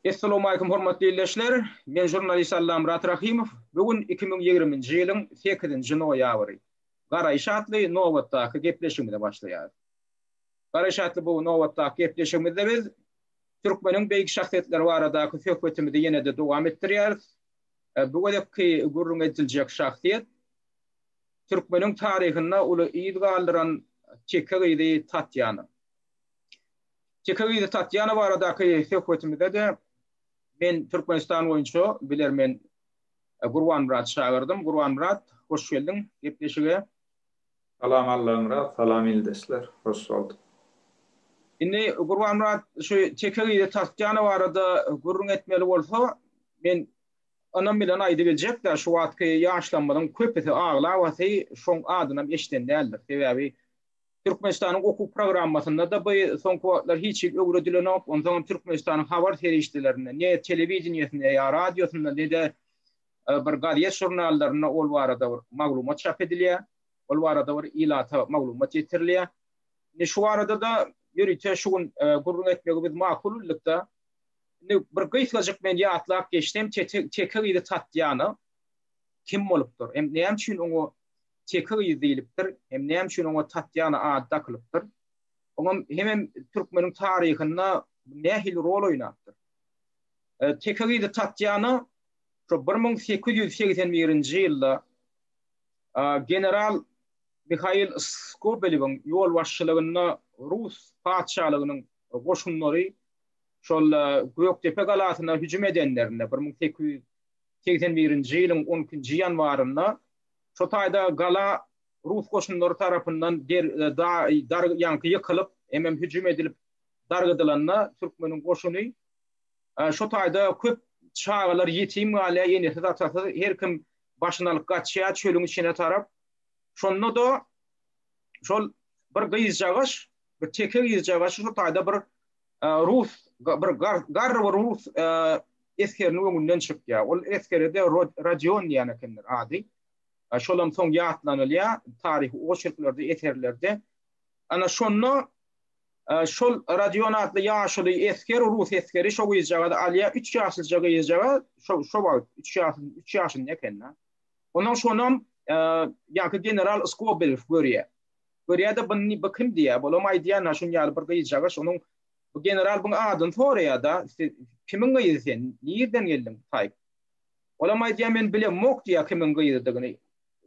Essalamualeýkum hormatly ildeşler! Men žurnalist Allamyrat Rahymow. Bu gün iki müň ýigriminji ýylyň sekizinji noýabry. Garaýyş atly nobatdaky gepleşigimize başlaýarys. Garaýyş atly bu nobatdaky gepleşigimizde biz türkmeniň beýik şahsyýetleri baradaky söhbetimizi ýene-de dowam etdirýäris. Bu gezekki gürrüň ediljek şahsyýet Türkmeniň taryhynda uly yz galdyran Teke gyzy Tatýana. Teke gyzy Tatýana baradaky söhbetimizde-de men Türkmenistan boýunça bilermen Gurbanmyrat çagyrdym. Gurbanmyrat, hoş geldiň gepleşige. Salam Allamyrat, salam ildeşler, hoş bolduk. Indi Gurbanmyrat, şu Teke gyzy Tatýana barada gürrüň etmeli bolsa, men Ynam bilen aýdybiljek-dä, şu wagtky ýaşlarymyzyň köpüsi aglabasy şoň adynam eşiden däldir. Sebäbi Türkmenistanyň okuw programmasynda-da bu soňky wagtlar hiç hili öwredilenok, onsoňam Türkmenistanyň habar serişdelerinde, ne telewideniýesinde, ýa radiosynda, ne-de bir gazet-žurnallarynda ol barada bir maglumat çap edilýär, ol barada bir ilata maglumat ýetirilýär. Indi şu barada-da ýörite şu gün gürrüň etmegi biz makul bildik-de. Indi bir gysgajyk men ýatlap geçsem, Teke gyzy Tatýana kim bolupdyr? Hem näme üçin oňa Teke gyzy diýlipdir? Hem näme üçin oňa Tatýana ady dakylypdyr? Oňam hemem türkmeniň taryhynda nähili rol oýnapdyr? Teke gyzy Tatýana şu bir müň sekiz ýüz segsen birinji ýylda general Mihail Skobelewiň ýolbaşçylygynda rus patyşalygynyň goşunlary Şol Gökdepe galasyna hüjüm edenlerinde, bir müň sekiz ýüz segsen birinji ýylyň on ikinji ýanwarynda, şo taýda gala rus goşunlary tarapyndan ýaňky ýykylyp, hemem hüjüm edilip dargadylanda, türkmeniň goşuny şo taýda köp çagalar ýetim galýar, enesiz-atasyz, her kim başyny alyp gaçýar çölüň içine tarap. Şonda-da şol bir gyzjagaş, bir teke gyzjagaşy şo taýda bir Rus, bir garry bir rus esgeriniň öňünden çykýar. Ol esgere-de Rodion diýen ekenler ady. Şolam soň ýatlanylýar taryhy oçerklerde, eserlerde. Ana şonda şol Rodion atly ýaşuly esger, rus esgeri şo gyzjagazy alýar, üç ýaşlyja gyzjagaz, şo şo wagt üç ýaşly, üç ýaşynda eken-dä. Ondan şonam ýaňky general Skobelew görýär. Görýä-de, bny bu kim diýýä. Bolam aýdýan-a, şun ýaly bir gyzjagaş onuň, Bu general bny adyny soraýa-da, Siz kimiň gyzy sen? Nirden geldiň? Taýp. Bolam aýdýa, Men bilemmok diýýä kimiň gyzydygyny.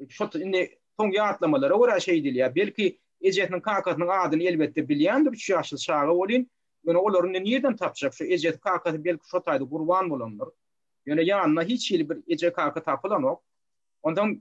Şo indi soň ýatlamalara görä şeý diýilýä. Belki, ejesiniň-kakasynyň adyny elbetde bilýändir, üç ýaşly çaga welin, ýöne olary indi nirden tapjak? Şo ejesi-kakasy belki şo taýda gurban bolandyr. Ýöne ýanynda hiç hili bir eje-kaka tapylanok. Onsoň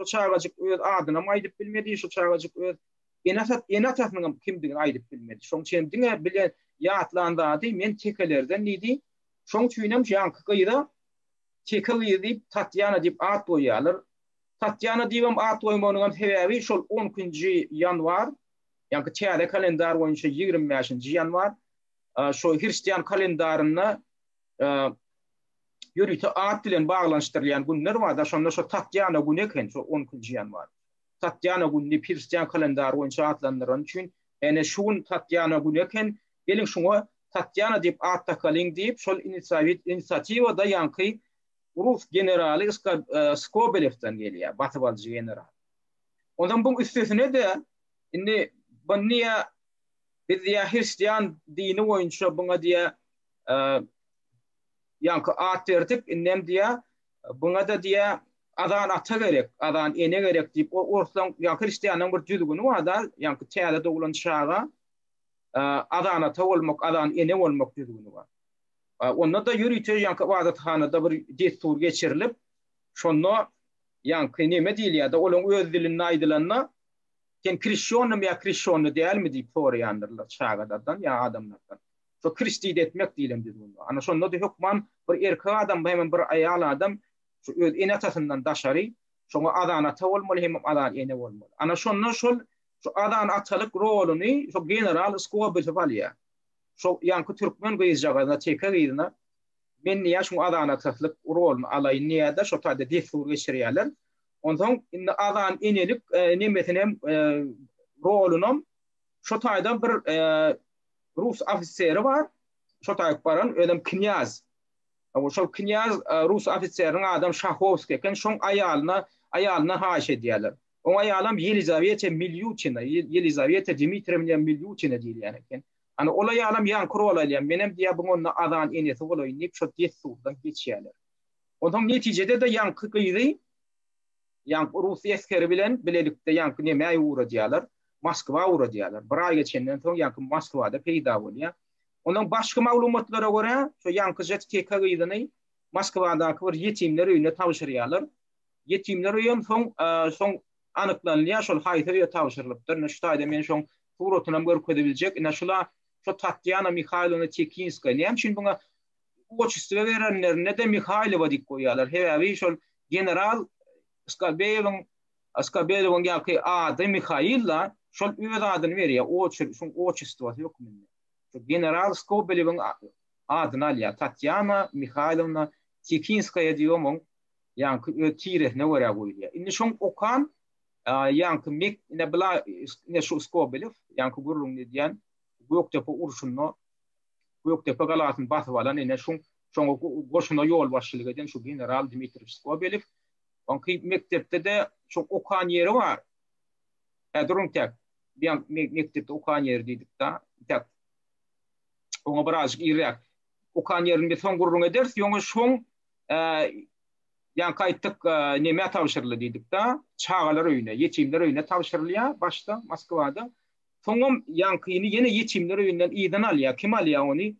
Şu çagajyk öz adynam aýdyp bilmedi, şu çagajyk öz ene atat, ene atasynyňam kimdigini aýdyp bilmedi. Şoň üçin hem diňe bile ýatlan zady men tekelerden diýdi. Şoň üçin hem ýaňky gyza Teke gyz diýip Tatýana diýip at goýýarlar. Tatýana diýibem at goýmagynyň sebäbi şol 12-nji ýanwar, ýaňky täze kalendar boýunça 25-nji ýanwar, şo hristian kalendarynda ýörite at bilen baglanyşdyrylýan günler bar-da, şonda şo Tatýana güni eken, şo on ikinji ýanwar. Tatýana gününi hristian kalendary boýunça atlandyrany üçin, ýagny şu gün Tatýana güni eken, geliň şuňa Tatýana diýip at dakalyň diýip, şol inisiatiwa-da ýaňky rus generaly Skobelewden gelýär, basyp alyjy general. Onsoň buň üstesine-de, indi bony diýýär, biz diýýär hristian dini boýunça buňa diýýär, Ýaňky at berdik, indem diýýä, Buňa-da diýýä, Azan ata gerek, azan ene gerek diýip, o orslaň, ýa hristianlaryň bir düzgüni bar-da, ýaňky täze doglan çaga Azan ata bolmak, azan ene bolmak düzgüni bar. Onda-da ýörite ýaňky ybadathanada bir dessur geçirilip, şonda ýaňky neme diýilýär-de, olaryň öz dilinde aýdylanda, Sen krişşionnymy ýa krişşionny dälmi diýip soraýandyrlar çagalardan ýa adamlardan. Şo Kristiýdi etmek diýlen düzgün. Ana şonda-da hökman bir erkek adam hem bir aýal adam şu öz ene-atasyndan daşary şoňa adan ata bolmaly hemem adan ene bolmaly. Ana şonda şol şu adan atalyk roluny şo general Skobelew alýar. Şo ýaňky türkmen gyzjagazyna, teke gyzyna men niýe şu adan ataslyk roluny alaýyn diýýär-de, şo taýda dessur geçirýärler. Onsoň indi adan enelik nemesinem rolunam şo taýdan bir rus ofiseri bar, şo taýyp baran, özem knýaz. Aw, şol knýaz rus ofiseriniň adam Şahowskiý eken, şoň aýalyna, aýalyndan haýyş edýärler. Oň aýalam Ýelizawete Milýutina, Ýelizawete Dmitriýewna Milýutina diýilýän eken. Ana, ol aýalam ýaňky rol alýar, menem diýýär, bu onda Azan enesi bolaýyn diýip, şo dessurdan geçýärler. Onsoň netijede-de ýaňky gyzy, ýaňky rus eskeri bilen bilelikde ýaňky nemäýe ugradýarlar. Moskwa ugradýarlar. Bir aý geçenden soň ýaňky Moskwada peýda bolýar. Ondan başga maglumatlara görä, şo ýaňky žtk gyzyny Moskwadaky bir ýetimler öýüne tabşyrýarlar. Ýetimler öýem soň soň anyklanylýar, şol haýsy öýe tabşyrylypdyr. Ine şu taýda men şoň suratynam görkezip biljek. Ine şula şo Tatýana Mihaýlowna Tekinskaýa. Näme üçin buňa otçestwo berenlerinde-de Mihaýlowa diýip goýýarlar. Sebäbi şol general Skobýewiň Askabelowuň ýaňky ady Mihail-la, şol öz adyny berýär, oçer, şoň oçestwosy hökmünde. Şu general Skobelewiň adyny alýar, Tatýana Mihailowna Tikinskaýa diýip omuň ýaňky öz tiresine görä goýulýar. Indi şoň okan, ýaňky mek, ine bula, ine şu Skobelew, ýaňky gürrüňini edýän, Gökdepe urşunda Gökdepe galasyny basyp alan, ine şoň, şoňa goşuna ýolbaşçylyk eden şu general Dmitriý Skobelew, Onki mekdepde-de şo okan ýeri bar. Häzir ontäk diýen mekdepde okan ýeri diýdik-de, ontäk oňa birazjyk irräk okan ýerini biz soň gürrüň ederis, ýöne şoň ýaňky aýtdyk nämä tabşyryldy diýdik-de, çagalar öýüne, ýetimler öýüne tabşyrylýar başda Moskwada. Soňam ýaňkyny ýene ýetimler öýünden yzdan alýar. Kim alýar ony?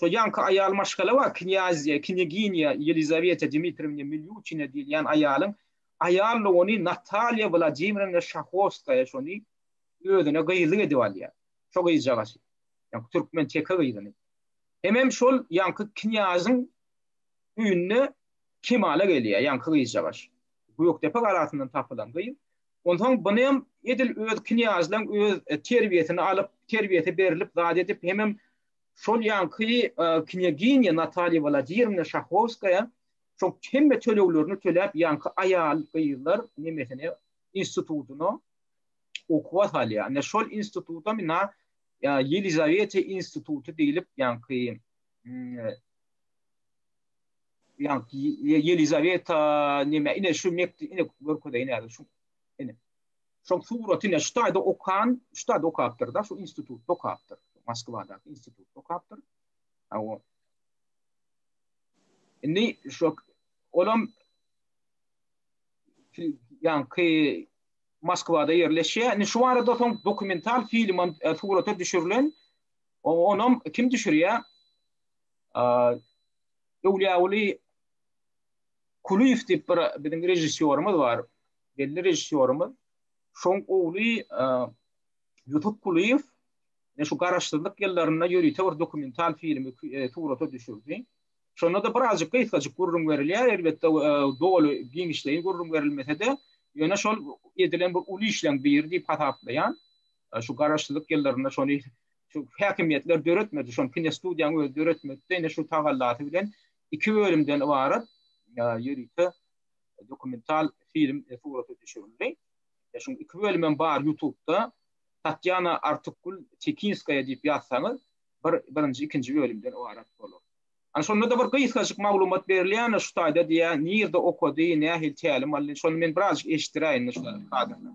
Şol ýaňky aýal maşgala bar, knýazýa, knýaginýa Ýelizaweta Dmitriýewna Milýuçina diýilýän aýalyň aýallygy ony Natalýa Wladimirovna Şahowskaýa şony özüne gyzlyk edip alýar. Şo gyzjagazy. Ýa türkmen teke gyzyny. Hemem şol ýaňky knýazyň öýünde kemala gelýär ýaňky gyzjagaş. Gökdepe galasyndan tapylan gyz. Onsoň buny hem edil öz knýazlaň öz terbiýesini alyp, terbiýesi berlip, zat edip, hemem Şol ýanky knýaginýa Natalýa Wladýirmna Şahowskaýa şoň hemme töleglerini töläp ýanky aýal gyzlar nemesine institutyna okuwa salýar. Ine şol instituta mena Ýelizaweta instituty diýlip ýanky ýanky Ýelizaweta neme ine şu mekde ine görkezeýin häzir şu ine. Şol suraty ine şu taýda okan, şu taýda okapdyr da, şu institutda okapdyr. Moskwadaky institutda okapdyr. Awa. Indi şu olam ýanky Moskwada ýerleşýär. Indi şu barada soň dokumental film hem e, surata düşürilen. Onam kim düşürýär? Öwlüýäwli Kulyýew diýip bir biziň režissýorymyz bar. belli režissýorymyz Şoň ogly Ýusup Kulyýew ne şu garaşsyzlyk ýyllarynda ýörite bir dokumental filmi surata düşürdi. Şonda da birazjyk gysgajyk gürrüň berilýär, elbetde doly giňişleýin gürrüň berilmese-de, ýöne şol edilen bir uly işleň biri diýip hasaplaýan. Şu garaşsyzlyk ýyllarynda şony şu häkimiýetler döretmedi, şony kinostudiýanyň özi döretmedi, ine şu tagallasy bilen iki bölümden ybarat ýörite dokumental film surata düşürildi. E, şuň iki bölüm hem bar YouTube-da. Tatýana Artukgul Tekinskaýa diýip ýazsaňyz, bir birinji, ikinji bölümden ybarat bolar. Ana şonda da bir gysgajyk maglumat berilýär, şu taýda diýýär, nirde okady, nähili tälim aldy, şony men birazjyk eşitdiräýin şu kadrda.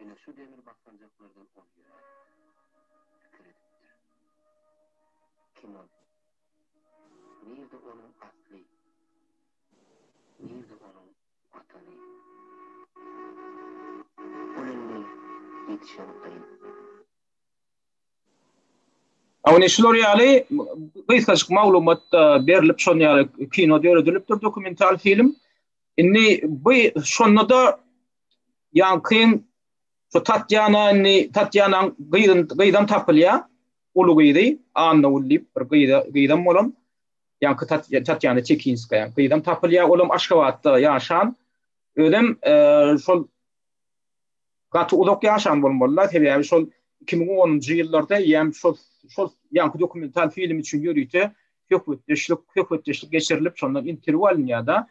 Ene şu demir basganjaklardan ol ýöne pikir edipdir. Kim ol? Nirde onuň asly? Nirde onuň Watany? Ol indi ýetişen gyz. Ony şular ýaly gysgajyk maglumat berlip şon ýaly kino döredilipdir dokumental film. Indi bu şonda da ýankyň şu Tatýana indi Tatýanaň gyzyn gyzam tapylýar. Uly gyzy Anna ul diýip bir gyza gyzam bolan. Ýanky Tatýana Çekinskaýa gyzam tapylýar. Olam Aşgabatda ýaşan. Özem şol Gaty uzak ýaşan bolmalylar, sebäbi şol iki müň onunjy ýyllarda ýäm şol şol ýaňky dokumental film üçin ýörite söhbetdeşlik söhbetdeşlik geçirilip, şondan interwýu alynýar-da.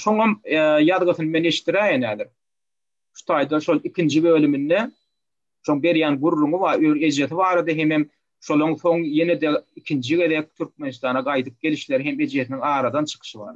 Şoňam ýazgysyny men eşidiräýen häzir. Şu taýda şol ikinji bölüminde şoň berýän gürrüňi bar, öz ejesi barada hemem şolaň soň ýene-de ikinji gezek Türkmenistana gaýdyp gelişleri hem ejesiniň aradan çykyşy bar.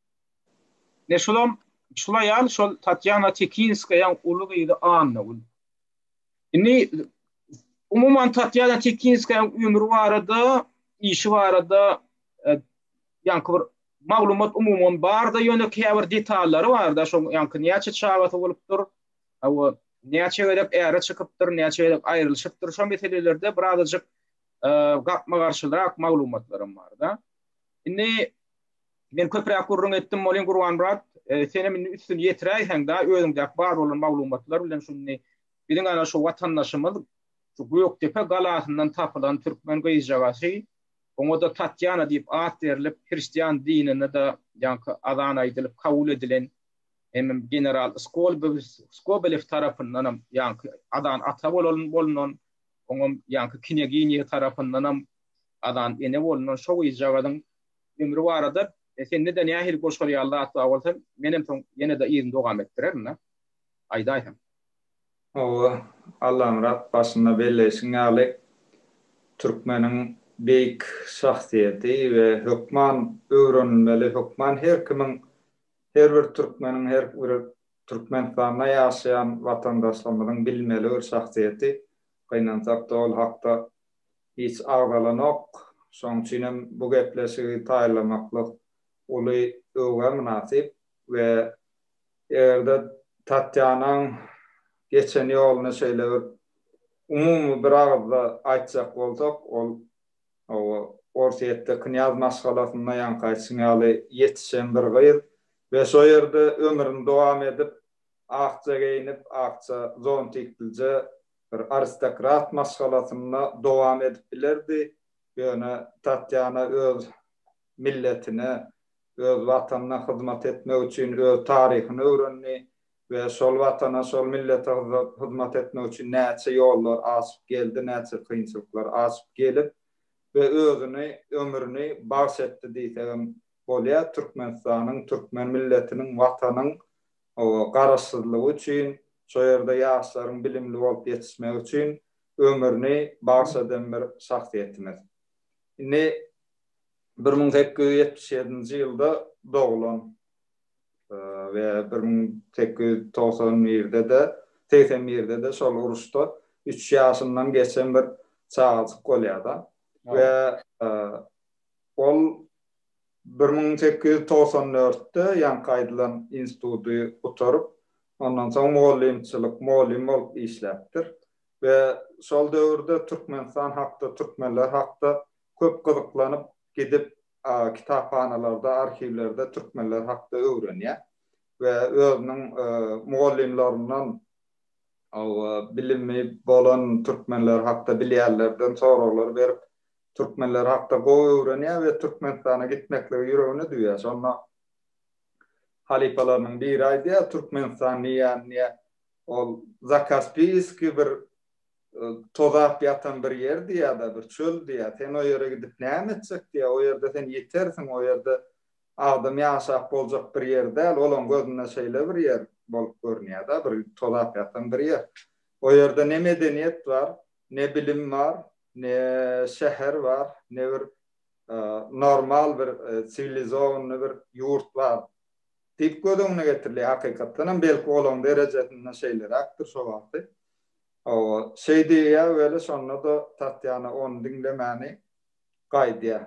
Ine şolam, şol aýal şol Tatýana Tekinskaýaň uly gyzy Annagül. Indi, umuman, Tatýana Tekinskaýaň ömri barada, işi barada ýaňky bir maglumat umuman bar-da, ýöne käbir detallary bar-da, şoň ýaňky näçe çagasy bolupdyr, hawa, näçe gezek äre çykypdyr, näçe gezek aýrylyşypdyr, şo meselelerde birazajyk gapma-garşyrak maglumatlaram bar-da. Indi, Men köpräk gürrüň etdim welin Gurbanmyrat senem indi üstüni ýetiräýseň-dä özüňdäki bar bolan maglumatlar bilen şuny biziň ana şu watandaşymyz şu Gökdepe galasyndan tapylan türkmen gyzjagazy oňa-da Tatýana diýip at berlip hristian dinine-de ýaňky azan aýdylyp kabul edilen hemem general Skolbews Skobelew tarapyndanam ýaňky azan ata bolan bolnan oňam ýaňky knýaginýa tarapyndanam azan ene bolnan şo gyzjagazyň ömri barada sende-de nähili goşgar ýaly zat bar bolsa, menem soň ýene-de yzyny dowam etdirerin-dä. Aýdaýsaň. Hawa, Allamyrat, başynda belleýşiň ýaly, türkmeniň beýik şahsyýeti we hökman öwrenilmeli, hökman her kimiň, her bir türkmeniň, her bir Türkmenistanda ýaşaýan watandaşlarymyzyň bilmeli bir şahsyýeti. Gynansak-da, ol hakda hiç agzalanok, şoň üçin hem bu gepleşigi taýýarlamaklyk uly öwgä mynasyp we eger-de Tatýanaň geçen ýoluny şeýle bir umumy bir agyzda aýtjak bolsak, ol hawa, Orsýetde knýaz maşgalasynda ýaňky aýtşyň ýaly ýetişen bir gyz we şo ýerde ömrüni dowam edip, akja geýnip, akja zontiklije bir aristokrat maşgalasynda dowam edip bilerdi, ýöne Tatýana öz milletine, öz Watanyna hyzmat etmek üçin öz taryhyny öwrendi we şol Watana, şol millete hyzmat etmek üçin näçe ýollar aşyp geldi, näçe kynçylyklar aşyp gelip we özüni, ömrüni bagş etdi diýsegem bolýar. Türkmenistanyň, türkmen milletiniň, Watanyň Hawa, Garaşsyzlygy üçin, şo ýerde ýaşlaryň bilimli bolup ýetişmegi üçin ömrüni bagyş eden bir şahsyýetimiz. Indi bir müň sekiz ýüz ýetmiş ýedinji ýylda doglan we bir müň sekiz ýüz togsan birde-de, segsen birde-de şol uruşda üç ýaşyndan geçen bir çagajyk bolýar-da we ol Bir müň sekiz ýüz togsan dörtde ýaňky aýdylan instituty gutaryp, ondan soň mugallymçylyk, mugallym bolup işläpdir we şol döwürde Türkmenistan hakda, türkmenler hakda köp gyzyklanyp gidip, kitaphanalarda, arhiwlerde türkmenler hakda öwrenýär we özüniň mugallymlaryndan, bilimi bolan türkmenler hakda bilýänlerden soraglar berip, Türkmenler hakda gowy öwrenýär we Türkmenistana gitmekligi ýüregine düwýär. Şonda halypalarynyň biri aýdýar, Türkmenistan diýýän ýe ol Zakaspiýskiý bir tozap ýatan bir ýer diýýär-de, bir çöl diýýär. Sen o ýere gidip näme etjek diýýär. O ýerde sen ýitersiň, o ýerde adam ýaşap boljak bir ýer däl. Olaň gözünde şeýle bir ýer bolup görünýär-de, bir tozap ýatan bir ýer. O ýerde ne medeniýet bar, ne bilim bar, Ne şäher bar, ne bir normal bir siwilizowanyny bir ýurt bar diýip göz öňüne getiriliýär. Hakykatdan hem belki olaň derejesinde şeýleräkdir şo wagty. Hawa, şeý diýýär weli şonda-da Tatýana ony diňlemäni gaýdýar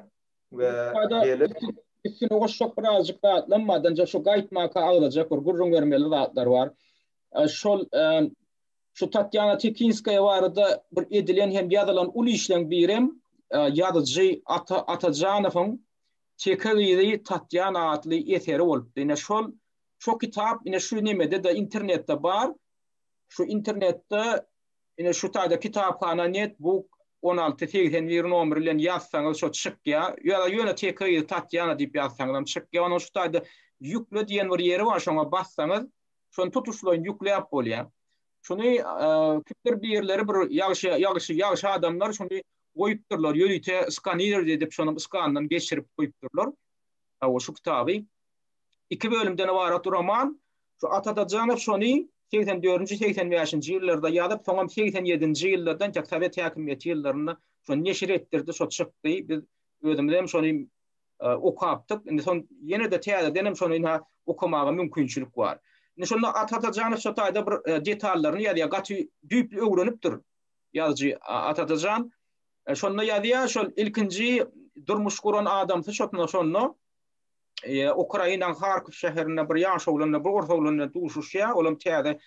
we gelip. Üstüne goşjak birazjyk zatlam bar, dynja şu gaýtmaka agzajak bir gürrüň bermeli zatlar bar. Şol Şu Tatýana Tekinskaýa barada bir edilen hem ýazylan uly işleň birem ýazyjy Ata Atajanowyň Teke gyzy Tatýana atly eseri bolupdy. Ine şol şo kitap ine şu nemede-de internetde bar. Şu internetde ine şu taýda kitaphana net buk on alty segsen bir nomer bilen ýazsaňyz şo çykýa. Ýa-da ýöne Teke gyzy Tatýana diýip ýazsaňyzam çykýa. Onuň şu taýda ýükle diýen bir ýeri bar şoňa bassaňyz Şony tutuşlaýyn ýükläp bolýar. Şony kimdir birleri bir ýagşy ýagşy ýagşy adamlar şony goýupdyrlar, ýörite skanir edip şonuň skanyndan geçirip goýupdyrlar. Hawa şu kitaby iki bölümden ybarat roman. Şu Atadajanow şony 84-85-nji ýyllarda ýazyp, soňam 87-nji ýyllardan ýa sowet häkimiýeti ýyllarynda şony neşir etdirdi, şo çykdy. Biz özümizem şony okapdyk. Indi son ýene-de täzedenem şony ina okamaga mümkinçilik bar. Indi şonda At Atajanov şo taýda bir detallaryny ýazýar. Gaty düýpli öwrenipdir ýazyjy At Atajan. Şonda ýazýar, şol ilkinji durmuş guran adamsy şo şonda Ukrainaň Harkow şäherinde bir ýaş oglan, bir ors oglan bilen duşuşýar. Olam täze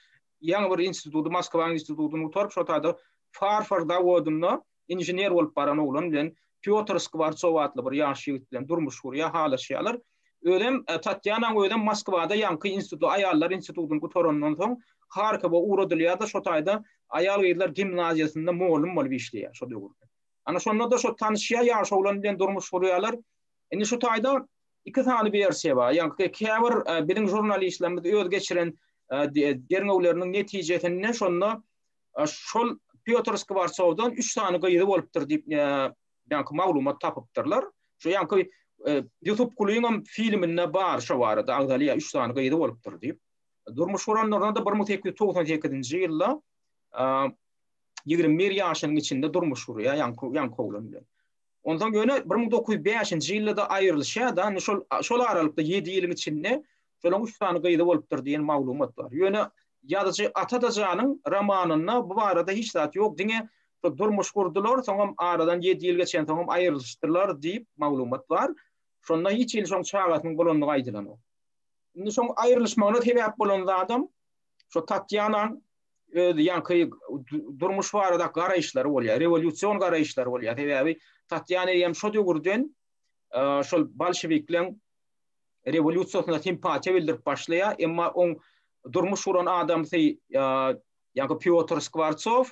ýaňy bir instituty, Moskwanyň institutyny gutaryp, şo taýda farfor zawodynda Inžener bolup baran oglan bilen Pýotr Skwartsow atly bir ýaş ýigit bilen durmuş gurýar, halaşýarlar. Özem, Tatýanaň özem Moskwada ýaňky instituty, aýallar institutyny gutarandan soň, Harkowa ugradylýar-da, şo taýda aýal-gyzlar gimnaziýasynda mugallym bolup işleýär şo döwürde. Ana, şonda-da şo tanyşýar, ýaş oglan bilen durmuş gurýarlar. Indi şu taýda iki sany wersiýa bar. Ýaňky käbir biziň žurnalistlerimiz öz geçiren derňewleriniň netijesinde şonda Şol Pýotr Skwortsowdan üç sany gyzy bolupdyr diýip, ýaňky maglumat tapypdyrlar. Şu ýaňky Ýusup Kulyňam filminde bar şo barada agzalýar, üç sany gyzy bolupdyr diýip. Durmuş guranlarynda bir müň sekiz ýüz togsan sekizinji ýylda ýigrimi bir ýaşynyň içinde durmuş gurýar ýaňky ýaňky oglan bilen. Onsoň ýöne bir müň dokuz ýüz bäşinji ýylda-da aýrylyşýar-da, indi şol, şol aralykda ýedi ýylyň içinde şolaň üç sany gyzy bolupdyr diýen maglumat bar. Ýöne ýazyjy Atadajanyň romanynda bu barada hiç zat ýok, diňe şol durmuş gurdular, soňam aradan ýedi ýyl geçensoňam aýrylyşdylar diýip maglumat bar. Şonda hiç hili şoň çagasynyň bolandygy aýdylanok. Indi şoň aýrylyşmagyna sebäp bolan zadam şo Tatýanaň öz ýaňky durmuş barada garaýyşlary bolýar, rewolýusion garaýyşlary bolýar. Sebäbi Tatýana hem şo döwürden e, şol bolşewikleriň rewolýusiýasyna simpatiýa bildirip başlaýar, emma oň durmuş guran adamsy e, ýa-da Piotr Skwartsow,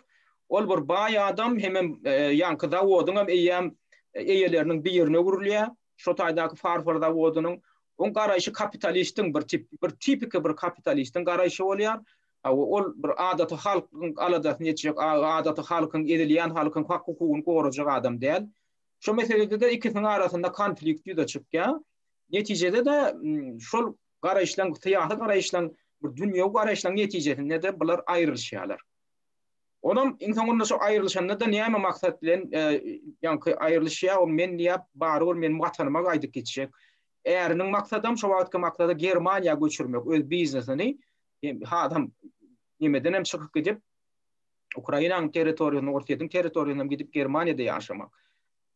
ol bir baý adam, hem hem e, ýaňky zawodyň hem eýýäm eýeleriniň birine öwrülýär. şo taýdaky farfor zawodynyň oň garaýşy kapitalistiň bir tip bir tipiki bir kapitalistiň garaýşy bolýar. Hawa, ol bir adaty halkyň aladasyny etjek, adaty halkyň, ezilýän halkyň hak-hukugyny gorajak adam däl. Şo meselede-de ikisiniň arasynda konflikt ýüze çykýar. Netijede-de şol garaýyşlaryň, syýasy garaýyşlaryň, bir dünýewi garaýyşlaryň netijesinde-de bular aýrylyşýarlar. Onam iň soňunda şo aýrylyşanda-da näme maksat bilen ýaňky aýrylyşýar, ol men diýýär, barybir meniň Watanyma gaýdyp gitjek. Äriniň maksadam şo wagtky maksady Germaniýa göçürmek öz biznesini. Hasam nimedenem çykyp gidip, Ukrainanyň territoriýasyna, Orsýetiň territoriýasyna gidip Germaniýada ýaşamak.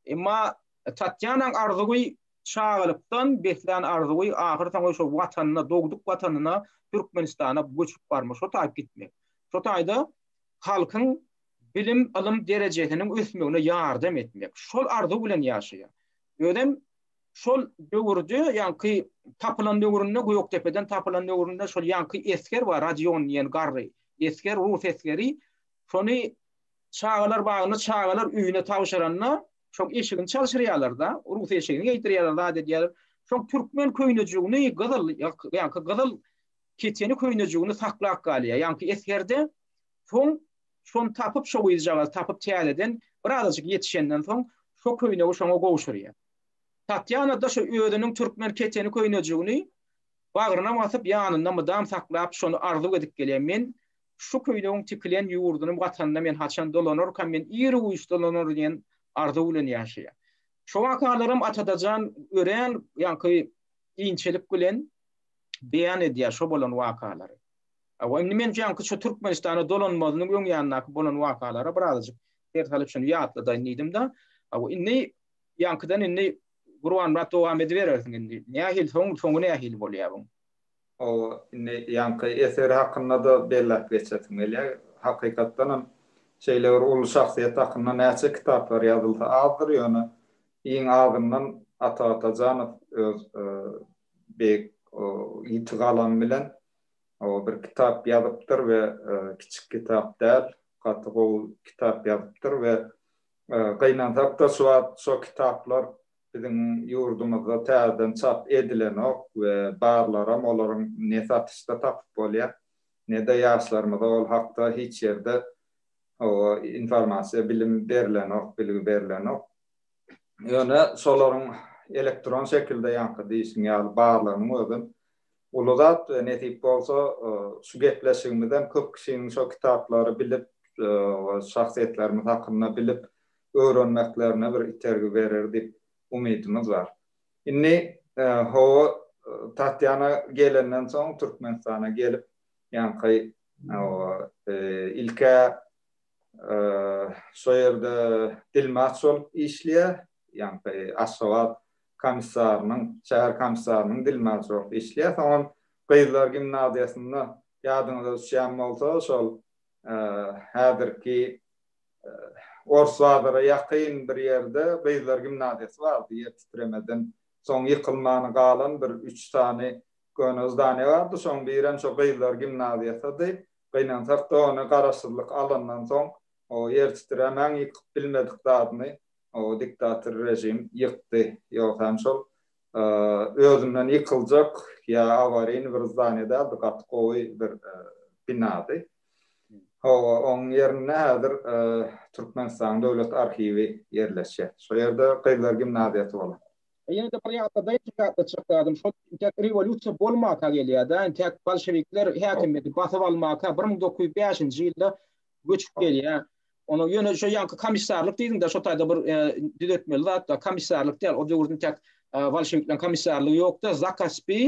Emma Tatýanaň arzuwy çagalykdan beslän arzuwy ahyrsoňy şo Watanyna, dogduk Watanyna, Türkmenistana göçüp barmak, şo taýyp gitmek. Şo taýda halkyň bilim, ylym derejesiniň ösmegine ýardam etmek, şol arzuw bilen ýaşaýar. Özem şol döwürde, ýaňky tapylan döwründe, Gökdepeden tapylan döwründe şol ýaňky esger bar, Rodion diýen garry esger, rus esgeri. Şony çagalar bagynda çagalar öýüne tabşyranda, şoň eşigini çalşyrýarlar-da, rus eşigini geýdirýärler, zat edýärler. Şoň türkmen köýnejigini gyzyl, ýaňky gyzyl Keçeni köýnejigini saklap galýar, ýaňky esgerde, soň şony tapyp, şo gyzjagazy tapyp täzeden birazajyk ýetişenden soň şo köýnegi şoňa gowşurýar. Tatýana-da şo özüniň türkmen keçeni köýnejigini bagryna basyp, ýanynda mydam saklap, şony arzuw edip gelýär, Men şu köýnegiň tikilen ýurdunym gatanyna men haçan dolanarkam, men ir güýç dolanar diýen arzuw bilen ýaşaýar. Şo wakalaram Atadajan örän ýaňky inçelik bilen. beýan edýär şo bolan wakalary. Hawa, indi men jaňky şu Türkmenistana dolanmazynyň öň ýanyndaky bolan wakalara bir azajyk ser salyp şuny ýatladaýyn diýdim-de, hawa, indi ýaňkydan indi Gurbanmyrat dowam ediberersiň indi. Nähili soň, soňy nähili bolýar buň? Hawa, indi ýaňky eseri hakynda-da belläp geçesim gelýär. Hakykatdan hem şeýle bir uly şahsyýet hakynda näçe kitaplar ýazylsa azdyr, ýöne iň azyndan Ata Atajanow öz beýik ýiti galam bilen bir kitap ýazypdyr we kiçik kitap däl, gaty gowy kitap ýazypdyr we gynansak-da şu wagt şo kitaplar biziň ýurdumyzda täzeden çap edilenok we barlaram olaryň ne satyşda tapyp bolýar, ne-de ýaşlarymyza ol hakda hiç ýerde informasiýa, bilim berilenok, bilgi berilenok. Ýöne şolaryň elektron şekilde ýaňky diýişiň ýaly barlygynyň özi uly zat we nesip bolsa şu gepleşigimizem köp kişiniň şo kitaplary bilip we şahsyýetlerimiz hakynda bilip öwrenmeklerine bir itergi berer diýip umydymyz bar. Indi hawa Tatýana gelenden soň Türkmenistana gelip ýaňky ilk-ä Şo ýerde dilmaç bolup işleýär. Ýaňky Aşgabat komissarynyň, şäher komissarynyň dilmaçy bolup işleýär. Soňam gyzlar gimnaziýasynda ýadyňyza düşýän bolsa, şol häzirki Ors bazara ýakyn bir ýerde gyzlar gimnaziýasy bardy. Ýer titremeden soň ýykylmany galan bir üç sany köne zdaniýa bardy. Şoň birem şo gyzlar gimnaziýasydy. Gynansak-da ony garaşsyzlyk alandan soň, ýertitirämäň ýykyp bilmedik zadyny diktator režim ýykdy. Ýogsa hem şol özünden ýykyljak ýa awaryny bir zdaniýa däldi, gaty gowy bir binady. Hawa, onuň ýerinde häzir Türkmenistanyň Döwlet arhiwi ýerleşýär. Şo ýerde gyzlar gimnaziýasy bolan. Ýene-de bir ýatladaýyn, iki ýatda çykdadym. Şol intäk rewolýusiýa bolmaka gelýär-de, intäk bolşewikler häkimiýeti basyp almaka bir müň dokuz ýüz bäşinji ýylda göçüp gelýär. Onuň ýöne şo ýaňky komissarlyk diýdiň-de, şo taýda bir düzetmeli zat bar. Komissarlyk däl, o döwürde intäk bolşewikleriň komissarlygy ýokdy. Zakaspi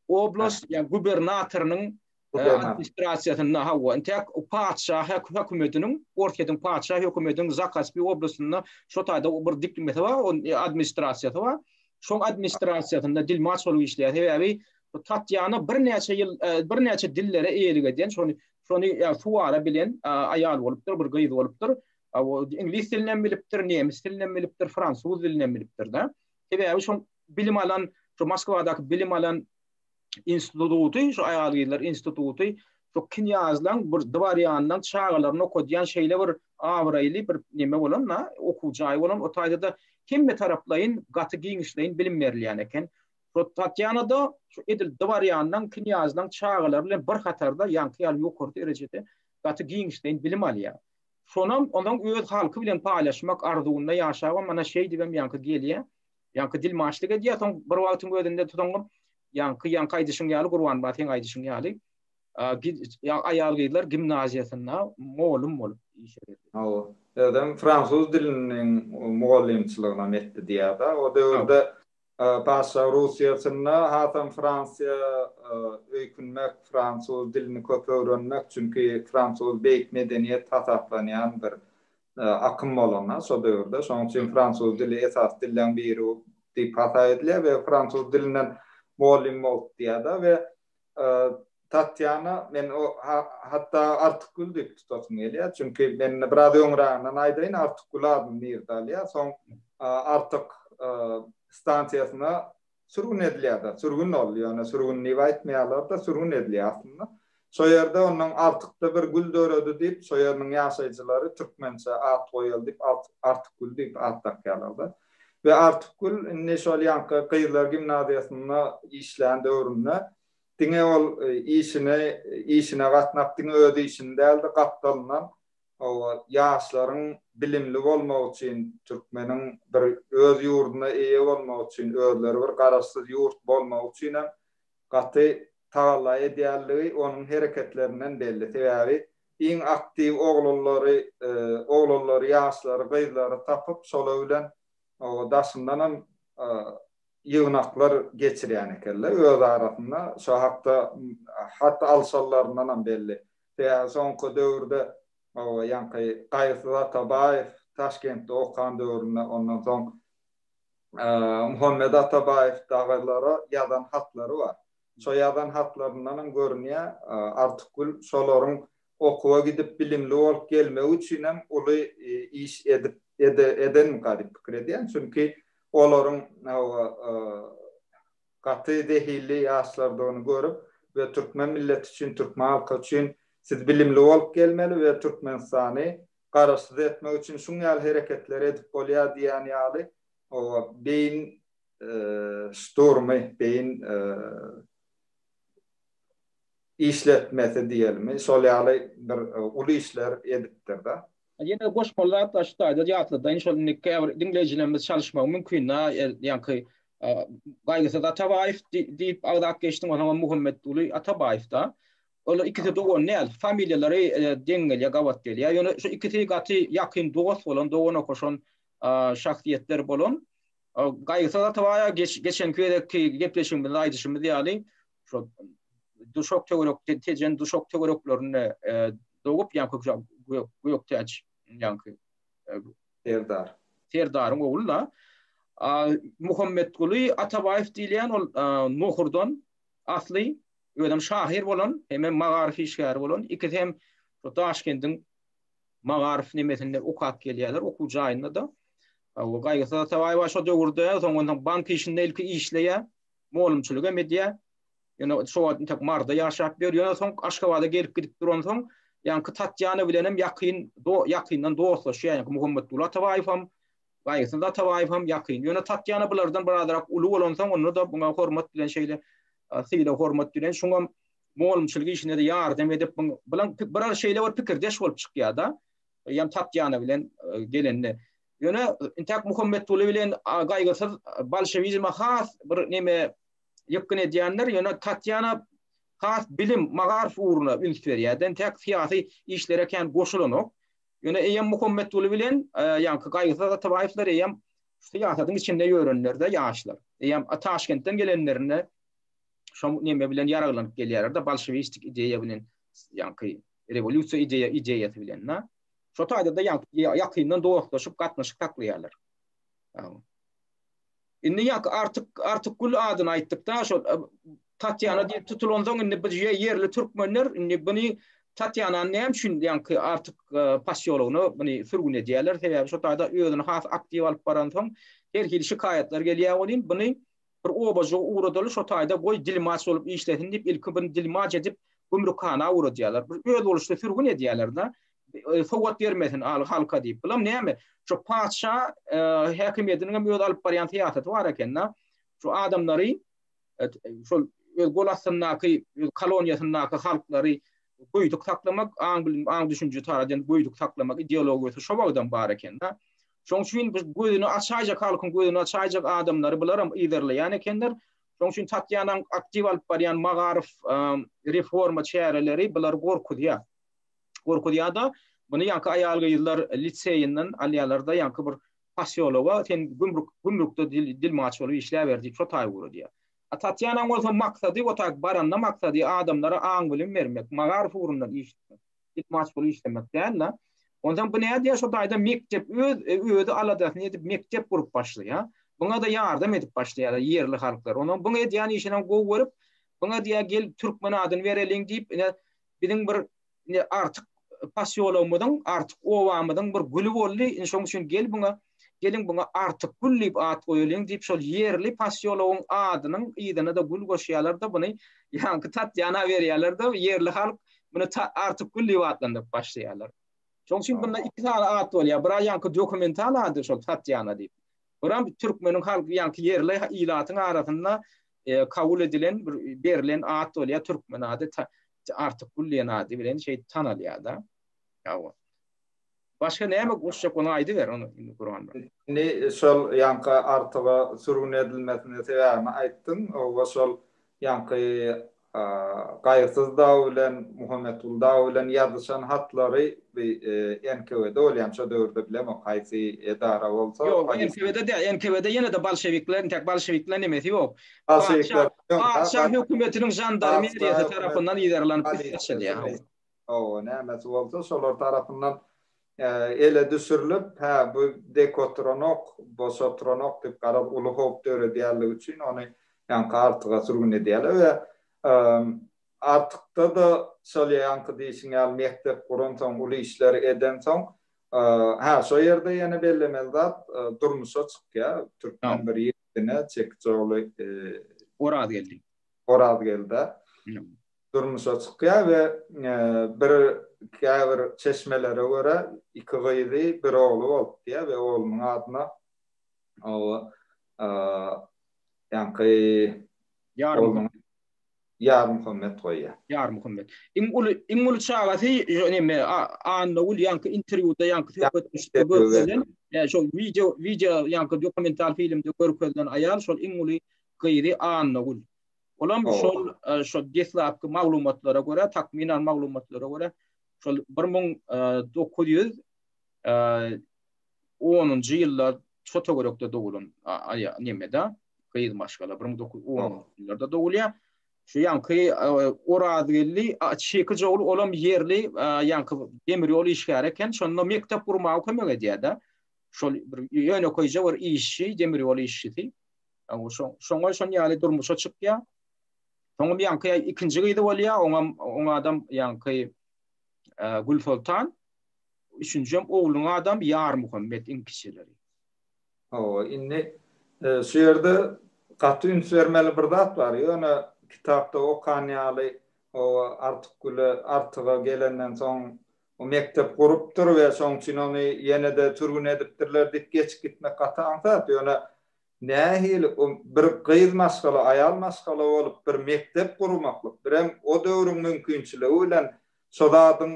oblast, ýa gubernatorynyň administrasiýasynda hawa intäk patyşa hökümetiniň orsýetiň patyşa hökümetiniň zakaspi oblastynda şo taýda bir dikmesi bar administrasiýasy bar şoň administrasiýasynda dilmaç bolup işleýär sebäbi tatýana birnäçe ýyl birnäçe dillere eýelik edýän şony şony suwara bilen aýal bolupdyr bir gyz bolupdyr iňlis dilinem bilipdir nemis dilinem bilipdir fransuz dilinem bilipdir da sebäbi şoň bilim alan şo moskwadaky bilim alan instituty, şu aýal-gyzlar instituty şu knýazlaň bir dworýanynyň çagalaryny okadýan şeýle bir abraýly bir neme bolan-da, okuw jaýy bolan, o taýda-da hemme taraplaýyn gaty giňişleýin bilim berilýän eken. Şo Tatýana-da şu edil dworýanynyň, knýazlaň çagalary bilen bir hatarda, ýaňky ýaly ýokary derejede gaty giňişleýin bilim alýar. Şonam onuň öz halky bilen paýlaşmak arzuwynda ýaşabam, ana şeýdibem ýaňky gelýär. Ýaňky dilmaçlyk edýär, soň bir wagtyň özünde tutuňňam ýaňky ýaňky aýdyşyň ýaly Gurbanba seň aýdyşyň ýaly aýal-gyzlar gimnaziýasynda molum bolup işe Hawa. Özem fransuz diliniň mugallymçylygynam etdi diýýär-de. O döwürde Paşşalyk Russiýasynda hasam Fransiýa öýkünmek, fransuz dilini köp öwrenmek, çünki fransuz beýik medeniýet hasaplanýan bir akym bolanda şo döwürde. Şonuň üçin fransuz dili esasy dilleň biri diýip hasa edilýär we fransuz dilinden mugallym bolup diýýär-de we Tatýana men hatda Artykgül diýip tutasym gelýär, çünki men biraz öňräginden aýdaýyn, Artykgül adyny nirde alýar, soň Artyk stansiýasyna Sürgün edilýär-de, sürgün ol, ýöne sürgün diýip aýtmaýarlar-da, sürgün edilýär aslynda. Şo ýerde ondan Artykda bir gül döredi diýip, şo ýeriniň ýaşaýjylary türkmençe at goýaly diýip, Artykgül diýip at dakýarlar-da. We Artykgül indi şol ýaňky gyzlar gimnaziýasynda işlän döwründe diňe ol işini, işine gatnap, diňe öz işini däl-de, gapdalyndan Hawa, ýaşlaryň bilimli bolmagy üçin, türkmeniň bir öz ýurduna eýe bolmagy üçin, özleri bir garaşsyz ýurt bolmagy üçin hem gaty tagalla edýändigi onuň hereketlerinden belli. Sebäbi iň aktiw oglanlary, oglanlary, ýaşlary, gyzlary tapyp, şolar bilen hawa, daşyndan hem ýygnaklar geçirýän eken-le, öz arasynda şo hakda hat alşanlaryndan hem belli. Sebäbi soňky döwürde ýaňky Gaýgysyz Atabaýew Taşkentde okan döwründe, ondan soň Muhammet Atabaýew dagylara ýazan hatlary bar. Şo ýazan hatlaryndan hem görünýär, Artykgül şolaryň okuwa gidip bilimli bolup gelmegi üçin hem uly iş edip edenmika diýip pikir edýän. Çünki olaryň Gaty zehilli ýaşlardygyny görüp we türkmen milleti üçin türkmen halky üçin siz bilimli bolup gelmeli we türkmenistany garaşsyz etmek üçin şuň ýaly hereketleri edip bolýar diýýän ýaly oba beýin şturmy beýin işletmesi diýelimi şol ýaly bir uly işler edipdirda. Ýene goşmaly zat bar, şu taýda ýatladaýyn, şol indi käbir diňleýjilerimiz çalyşmagy mümkin-dä, ýaňky Gaýgysyz Atabaýew diýip agzap geçdiň, onsoň hem Muhammetguly Atabaýew-da. Olar ikisi dogan däl, familiýalary deň gelýär, gabat gelýär. Ýöne şu ikisi gaty ýakyn dost bolan, dogan okaşan şahsyýetler bolan. Gaýgysyz Atabaýew geçenki gezekki gepleşigimizde aýdyşymyz ýaly, şol duşak töwerek tejen duşak töwereklerinde dogup ýa kökje göktäç ýaňky serdar serdaryň ogly da Muhammetguly Atabaýew diýilýän ol Nohurdan asly özem şahyr bolan hem hem magaryf işgäri bolan ikisi hem Daşkendiň magaryf nemesinde okap gelýärler okuw jaýynda da Gaýgysyz Atabaýew şo döwürde soňundan bank işinde ilki işleýär molumçylyk hem edýär. Ýöne şo wagt entek Maryda ýaşap ýör. Ýöne soň Aşgabada gelip gidip duransoň, ýaňky Tatýana bilen hem ýakyn, ýakyndan dostlaşýar. Ýaňky Muhammetguly Atabaýew hem, Gaýgysyn Atabaýew hem ýakyn. Ýöne Tatýana bulardan birazrak uly bolansoň, onda-da muňa hormat bilen şeýle sylag-hormat bilen, şoňam molumçylyk işine-de ýardam edip, bilen bir şeýle bir pikirdeş bolup çykýar-da. Ýa Tatýana bilen gelende. Ýöne intäk Muhammetguly bilen Gaýgysyz bolşewizme has bir neme ýykgyn edýänler, ýöne Tatýana has bilim, magaryf ugruna üns berýär-de, intäk syýasy işlere kän goşulanok. Ýöne eýýäm Muhammetguly bilen ýaňky Gaýgysyz Atabaýewler eýýäm syýasatyň içinde ýörenler-de ýaşlar. Eýýäm Taşkentden gelenlerinde şo neme bilen ýaraglanyp gelýärler-de, bolşewistik ideýa bilen, ýaňky rewolýusiýa ideýasy bilen-de. Şo taýda-da ýakyndan dostlaşyp gatnaşyk saklaýarlar. Indi ýak artyk Artykgül adyny aýtdykda şol Tatýana diýip tutulansoň indi biz ýerli türkmenler indi buny Tatýanany näme üçin ýaňky Artyk posýologyna buny sürgün edýärler sebäbi şo taýda özüni has aktiw alyp baransoň her hili şikaýatlar gelýär welin buny Bir obajygy ugradaly şo taýda goý dilmaç bolup işlesin diýip ilki bun dilmaç edip gümrükhana ugradýarlar. Bir özboluşly sürgün edýärler-de. Sowgat bermesin al halka diýip. Bulam näme? Şo patyşa häkimiýetiniň hem öz alyp barýan syýasaty bar eken-de. Şu adamlary şol öz gol astyndaky öz koloniýasyndaky halklary goýduk saklamak, aň bilim aň düşünje taýdan goýduk saklamak ideologiýasy şo wagtam bar eken-de. Şoň üçin biz gözüni açaýjak halkyň gözüni açaýjak adamlary bularam yzarlaýan ekenler. Şoň üçin Tatýanaň aktiw alyp barýan magaryf reforma çäreleri bulary gorkuzýar. Gorkuzýar-da, muny ýaňky aýal-gyzlar liseýinden alýarlar-da, ýaňky bir posýologa sen gümrük gümrükde dilmaç bolup işläber diýip şo taýy guradýar. A Tatýanaň bolsa maksady otak baranda maksady adamlara aň-bilim bermek, magaryf ugrundan iş tutmak. Git maşgul işlemek däl-de. Onsoň bu nädýär şo taýda mekdep öz özi aladasyny edip mekdep gurup başlaýar. Buňa-da ýardam edip başlaýarlar ýerli halklar. Onuň buň edýän işinem gowy görüp, buňa diýýär gel türkmen adyny bereliň diýip, ine biziň bir ine artyk posýologymyzyň, artyk obamyzyň bir güli boldy. Ine şoň üçin gel buňa Geliň buňa Artyk gül diýip at goýalyň diýip şol ýerli posýologyň adynyň yzyna-da gül goşýarlar-da buny ýaňky Tatýana berýärler-de ýerli halk muny Artyk gül diýip atlandyryp başlaýarlar. Şoň üçin bunda iki sany at bolýar. Bira ýaňky dokumental ady şol Tatýana diýip. Biram türkmeniň halk ýaňky ýerli ilatyň arasynda kabul edilen bir berlen at bolýar türkmen ady Artyk gül diýen ady bilen şeýdip tanalýar-da. Ýa-o. Başga näme goşjak ony aýdyber ony indi guran bar. Indi şol ýaňky artyga sürgün edilmesine sebäbini aýtdyň we şol ýaňky Gaýyrsyz dagy bilen Muhammetguly dagy bilen ýazyşan hatlary bi NKWD bolýamy şo döwürde bilemok haýsy edara bolsa. Ýok NKWD däl NKWD ýene-de bolşewikler intäk bolşewikleriň nemesi ýok. Bolşewikleriň ýok. Patyşa hökümetiniň žandarmeriýasy tarapyndan yzarlanyp üst açylýar. Hawa, nämesi bolsa, şolar tarapyndan ele düşürilip, hä, bu dek oturanok, boş oturanok diýip, garaz, uly howp döredýänligi üçin ony ýaňky artyga sürgün edýärler we artykda-da şol ýaňky diýşiň ýaly mekdep guransoň, uly işler edensoň, hä, şo ýerde ýene bellemeli zat durmuşa çykýar, türkmen bir ýigdine, çekiç ogly Orazgeldi. Orazgeldi. durmuşa çykýar we bir käbir çeşmelere görä iki gyzy bir ogly bolupdyýar we oglunyň adyna oba ýaňky ýarym Ýarmuhammet goýýar. Ýarmuhammet. Iň uly iň uly çagasy näme Annagül ýaňky interwýuda ýaňky söhbetdeşlikde görkezilen ýa şol wideo wideo ýaňky dokumental filmde görkezilen aýal şol iň uly gyzy Annagül. Olam şol şo deslapky maglumatlara görä, takmynan maglumatlara görä, şol 1900 10-njy ýyllar çota görekde doglan aýa nemede gyz maşgala 1910-njylarda dogulýar. Şu ýanky Orazgeldi Çeki Jogul olam ýerli ýanky demir ýol işgäri eken, şonda mekdep gurmaga kömek edýär-de. Şol bir ýönekeýje bir işçi, demir ýol işçisi. Şoňa şon ýaly durmuşa çykýar. Soňam ýaňky ikinji gyzy bolýar, oňam oň adam ýaňky Gül Soltan. Üçünjem ogluň adam Ýar Muhammet iň kiçileri. Hawa, indi şu ýerde gaty üns bermeli bir zat bar. Ýöne kitapda okan ýaly Artykgüle, Artyga gelenden soň o mekdep gurupdyr we şoň üçin ony ýene-de sürgün edipdirler diýip geçip gitmek gaty aňsat. Ýöne Nähili o bir gyz maşgala, aýal maşgala bolup bir mekdep gurmaklyk, birem o döwrüň mümkinçiligi bilen şo zadyň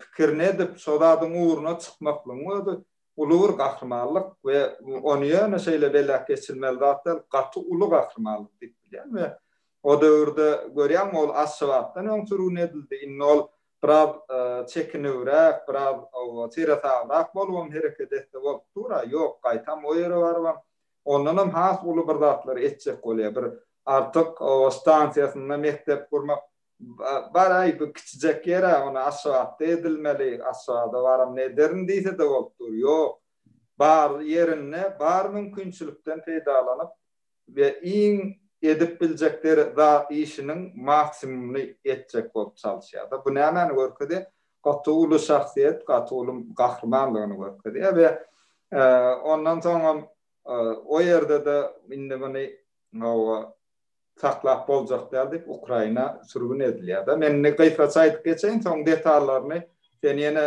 pikirini edip, şo zadyň ugruna çykmaklygyň özi uly bir gahrymanlyk we ony ýöne şeýle beläk geçilmeli zat däl, gaty uly gahrymanlyk diýip bilýän we o döwürde görýäňmi ol Aşgabatdan öň sürgün edildi, indi ol Biraz çekinewräk, biraz seresabrak bolubam hereket etse bolup dur-a, ýok, gaýtam o ýere barybam, ondanam has uly bir zatlar etjek bolýar, bir Artyk howa stansiýasynda mekdep gurmak, bar-aý, bu kiçijek ýer-ä, ony Aşgabatda edilmeli, Aşgabada baram ederin diýse-de bolup dur, ýok, bar ýerinde, bar mümkinçilikden peýdalanyp, we iň edip biljekleri zat işiniň maksimumyny etjek bolup çalyşýarda bu nämäni görkezýär gaty uly şahsyýet gaty uly gahrymanlygyny görkezýär we ondan soňam o ýerdede indi muny hawa saklap boljak däl diýip ukraina sürgün edilýärda men indi gysgaça aýdyp geçeýin soň detallaryny sen ýene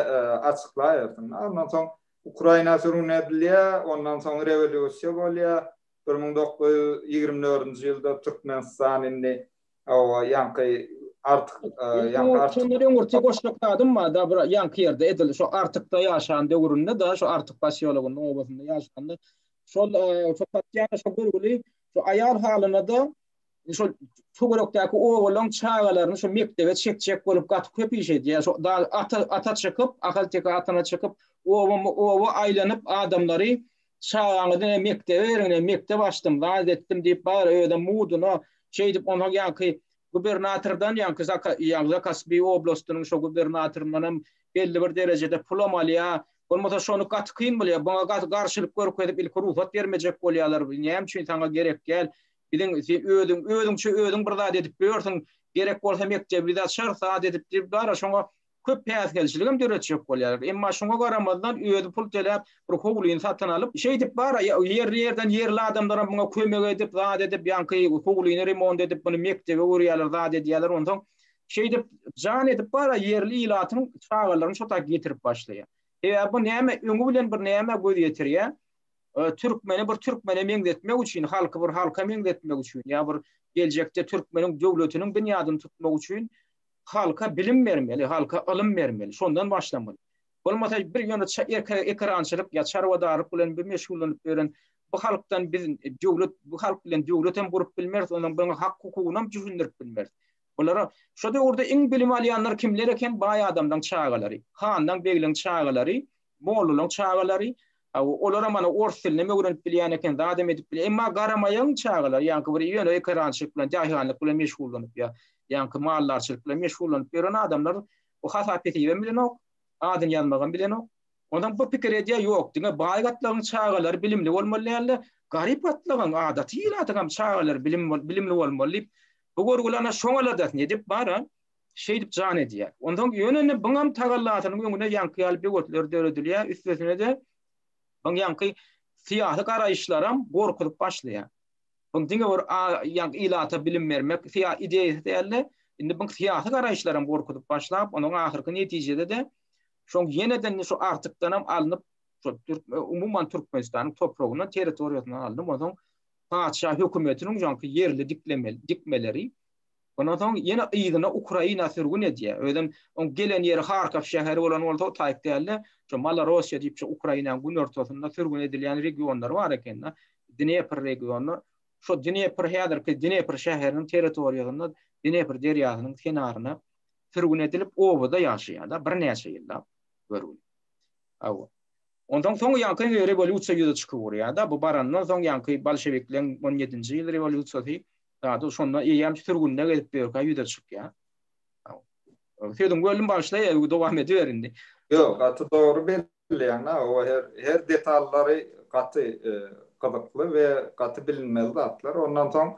açyklaýarsyň ondan soň ukraina sürgün edilýär ondan soň rewolýusiýa bolýar Bir müň dokuz ýüz ýigrimi dördünji ýylda Türkmenistan indi hawa ýaňky artyk ýaňky artyk. Şondan öň bir tegoşluk zadym bar da bir ýaňky ýerde edil şu artykda ýaşan döwründe da şu artyk pasýologynda obasynda ýaşanda şol şu patýana şu görgüli şu aýal halyna da Şol töwerekdäki obalaryň çagalaryny şu mekdebe çekjek bolup gaty köp iş edýär. Şo dagy ata ata çykyp, ahalteke atyna çykyp, obama oba aýlanyp adamlary çagaňyzy mekdebe beriň, mekdep açdym, zat etdim diýip bar, özem muduna şeýdip onsoň ýaňky gubernatordan ýaňky zaka ýaňky Zakaspiý oblastynyň şo gubernatoryndanam belli bir derejede pulam alýar. Bolmasa şony gaty kyn bilýär. Buňa gaty garşylyk görkezip ilki rugsat bermejek bolýarlar. Näme üçin saňa gerek däl. Biziň sen özüň özüňçe özüň bir zat edip ýörsiň, gerek bolsa mekdebi biz açarys, zat edip diýip bar, şoňa köp päsgelçiligem döretjek bolýarlar. Emma şoňa garamazdan özi pul töläp bir howlyny satyn alyp, şeýdip bar, ýerli ýerden ýerli adamlaram muňa kömek edip, zat edip, ýaňky howlyny remont edip, muny mekdep öwürýärler, zat edýärler, onsoň şeýdip jan edip bar, ýerli ilatyň çagalaryny şo taýy getirip başlaýar. Sebäbi bu näme öňi bilen bir nämä göz ýetirýär, türkmeni bir türkmene meňzetmek üçin, halky bir halka meňzetmek üçin ýa bir geljekde türkmeniň döwletiniň binýadyny tutmak üçin halka bilim bermeli, halka ylym bermeli, şondan başlamaly. Bolmasa bir ýöne ekerançylyk ýa çarwadarlyk bilen bir meşgullanyp ýören bu halkdan biz döwlet, bu halk bilen döwlet hem gurup bilmeris, onuň bir hak-hukugyny hem düşündirip bilmeris. Bulara şu döwürde iň bilim alýanlar kimler eken? Baý adamlaryň çagalary, hanlaryň, begleriň çagalary, Mollalaň çagalary, olaram ana ors dilinem öwrenip bilýän eken, zadam edip bilýän. Emma garamaýagyň çagalary, ýaňky bir ýöne ekerançylyk bilen, daýhanlyk bilen meşgullanyp ýa, ýaňky maldarçylyk bilen meşgullanyp ýören adamlar o hasap-hesebem bilenok, adyny ýazmagam bilenok. Onsoň bu pikir edýär, ýok, diňe baý gatlagyň çagalary bilimli bolmaly däldi, garyp gatlagyň, adaty ilatyňam çagalary bilim bilimli bolmaly diýip, bu görgüli ana şoň aladasyny edip bar-a. Şeýdip jan edýär. Onsoň ýöne indi byňam tagallasynyň öňüne ýaňky ýaly böwetler döredilýär, üstesine-de byň ýaňky syýasy garaýyşlaram gorkuzyp başlaýar. Byň diňe bir ýaňky ilata bilim bermek ideýasy däl-de, indi byň syýasy garaýyşlaram gorkuzyp başlap, onuň ahyrky netijede-de şoň ýene-de şu Artykdanam alnyp, umuman Türkmenistanyň topragyndan, territoriýasyndan alnyp, onsoň patyşa hökümetiniň ýaňky ýerli dikmeleri, Ondan soň ýene yzyna Ukraina sürgün edýär. Özem oň gelen ýeri Harkow şäheri bolan bolsa o taýyk däldi. Şu Malorossiýa diýip şu Ukrainanyň günortasynda sürgün edilýän regionlary bar ekeni. Dnepr regiony. Şu Dnepr häzirki Dnepr şäheriniň territoriýasynda Dnepr derýasynyň kenaryna sürgün edilip obada ýaşaýarlar birnäçe ýyllap görgüli. Hawa. Ondan soň ýaňky rewolýusiýa ýüze çykyp urýar-da. Bu barandan soň ýaňky bolşewikleriň on ýedinji ýyl rewolýusiýasy Zady şonda eýýäm sürgünde gezip ýörkä ýüze çykýar. Sözüňi böldüm bagyşla, dowam ediber indi. Ýok, gaty dogry belleýäň, o her her detallary gaty gyzykly we gaty bilinmeli zatlar. Ondan soň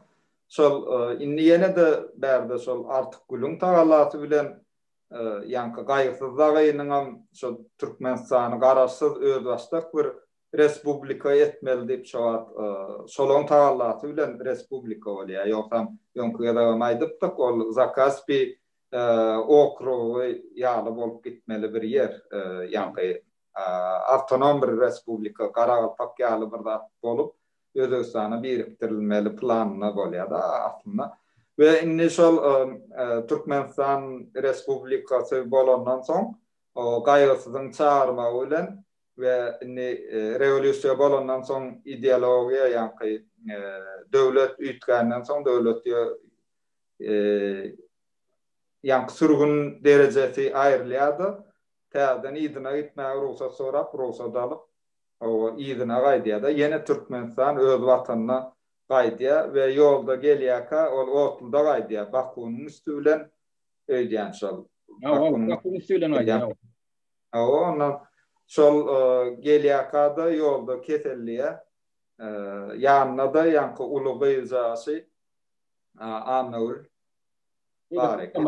şol indi ýene-de bärde şol Artykgülüň tagallasy bilen ýaňky Gaýgysyz dagynyňam şol Türkmenistany garaşsyz özbaşdak bir Respublika etmeli diýip şo wagt şolaň tagallasy bilen respublika bolýar. Ýogsam öňki gezegem aýdypdyk, ol Zakaspi okrugy ýaly bolup gitmeli bir ýer, ýaňky awtonom bir respublika, Garagalpak ýaly bir zat bolup, Özbegistana birikdirilmeli planynda bolýar-da aslynda. We indi şol Türkmenistan respublikasy bolandan soň, Gaýgysyzyň çagyrmagy bilen we indi rewolýusiýa bolandan soň ideologiýa ýaňky döwlet üýtgänden soň döwlet ýaňky sürgün derejesi aýrylýardy täzeden yzyna gitmäge rugsat sorap rugsat alyp oba yzyna gaýdýarda ýene türkmenistan öz watanyna gaýdýar we ýolda gelýärkä ol otluda gaýdýar bakunyň üsti bilen öýdýän şol bakunyň üsti bilen gaýdýar. Hawa, onda şol gelýärka-da ýolda keselleýär. Ýanynda-da ýaňky uly gyzjagazy Annagül bar eken.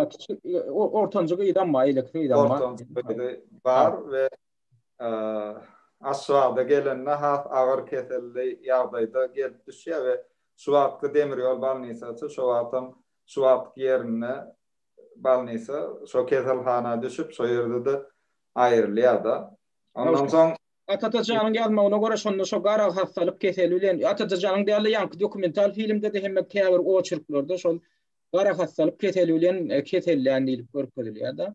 Ortanjy gyzam bar, eýleki gyzam bar. Ortanjy gyzy bar we Aşgabada gelende has agyr keselli ýagdaýda gelip düşýär we şu wagtky demir ýol bolnisasy şo wagtam şu wagtky ýerinde balnisa, şo keselhana düşüp, şo ýerde-de aýrylýar-da. Ondan soň. Atatajanyň ýazmagyna görä, şonda şo gara hassalyk keseli bilen, Atatajanyň däl-de, ýaňky dokumental filmde-de hem käbir oçerklarda şol gara hassalyk keseli bilen kesellän diýlip görkezilýär-de.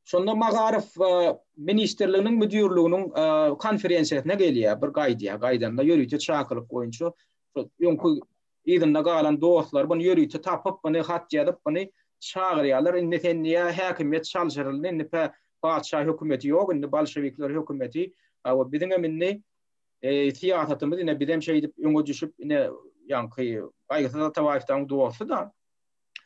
Şonda Magarow ministrliginiň müdirliginiň konferensiýasyna gelýär, bir gaýdýar. Gaýdanda ýörite çakylyk boýunça öňki Yzynda galan dostlary buny ýörite tapyp, buny hat ýazyp, buny çagyrýarlar. Indi sen diýýär, häkimiýet çalşyryldy, indi pä, patyşa hökümeti ýok, indi bolşewikler hökümeti. Hawa, biziňem indi syýasatymyz, ine, bizem şeýdip öňe düşüp, ine, ýaňky Gaýgysyz Atabaýewdäň dosty-da.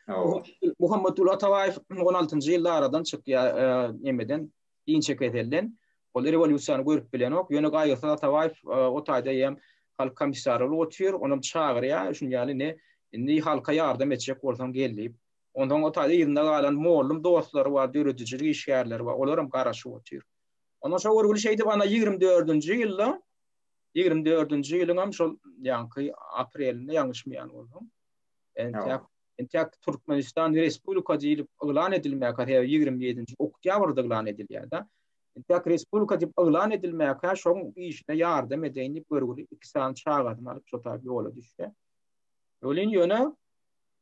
Hawa. Muhammetguly Atabaýew on altynjy ýylda aradan çykýar, nämeden, inçe keselden. Ol rewolýusiýany görüp bilenok. Ýöne Gaýgysyz Atabaýew o taýda hem halk komissary bolup otyr. Onam çagyrýar, şunuň ýaly indi, indi halka ýardam etjek bolsaň gel diýip. Onsoň o taýda yzynda galan mollum dostlary bar, döredijilik işgärleri bar. Olar hem garaşyp otyr. Onsoň şo görgüli şeýdip ana ýigrimi dördünji ýylda, ýigrimi dördünji ýylyň hem şol ýaňky aprelinde ýalňyşmaýan bolsam, entäk Entäk Türkmenistan Respublika diýlip yglan edilmäkä, sebäbi ýigrimi ýedinji oktýabrda yglan edilýär-de. Entäk Respublika diýip yglan edilmäkä şoň işine ýardam edeýin diýip görgüli iki sany çagasyny alyp şo tarap ýola düşýär. Welin ýöne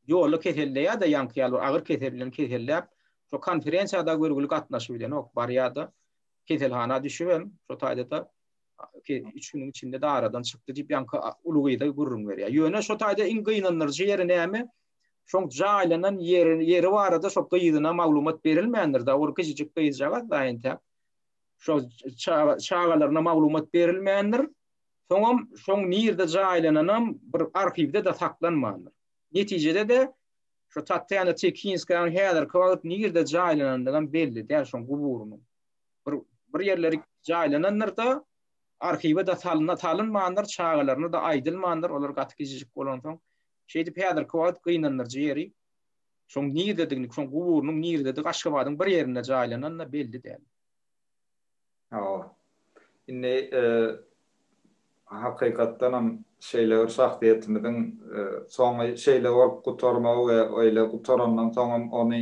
ýolda keselleýär-de, ýaňky ýaly bir agyr kesel bilen keselläp, şo konferensiýa-da görgüli gatnaşyp bilenok. Barýar-da, keselhana düşübem, şo taýda-da ki, üç günüň içinde-de aradan çykdy diýip, ýaňky uly gyz-a gürrüň berýär. Ýöne şu taýda iň gynandyryjy ýeri näme? Şoň jaýlanan ýeri, ýeri barada şo gyzyna maglumat berilmändir-dä, ol kiçijik gyzjagaz-da entäk. Şo çaga, çagalaryna maglumat berilmändir. Soňam şoň nirde jaýlananam bir arhiwde-de saklanmandyr. Netijede-de şo Tatýana Tekinskaýanyň häzirki wagt nirde jaýlanandygam belli däl şoň guburynyň. bir bir ýerleri jaýlanandyrda arhiwe da salna salynmandyr çagalaryna da aýdylmandyr olar gaty gijijik bolansoň şeýdip häzirki wagt gynandyryjy ýeri şoň nirdedigini şoň guburynyň nirdedigi aşgabadyň bir ýerinde jaýlananda belli däl hawa indi hakykatdanam şeýle bir şahsyýetimiziň soňy şeýle bolup gutarmagy we öýle gutarandan soňam ony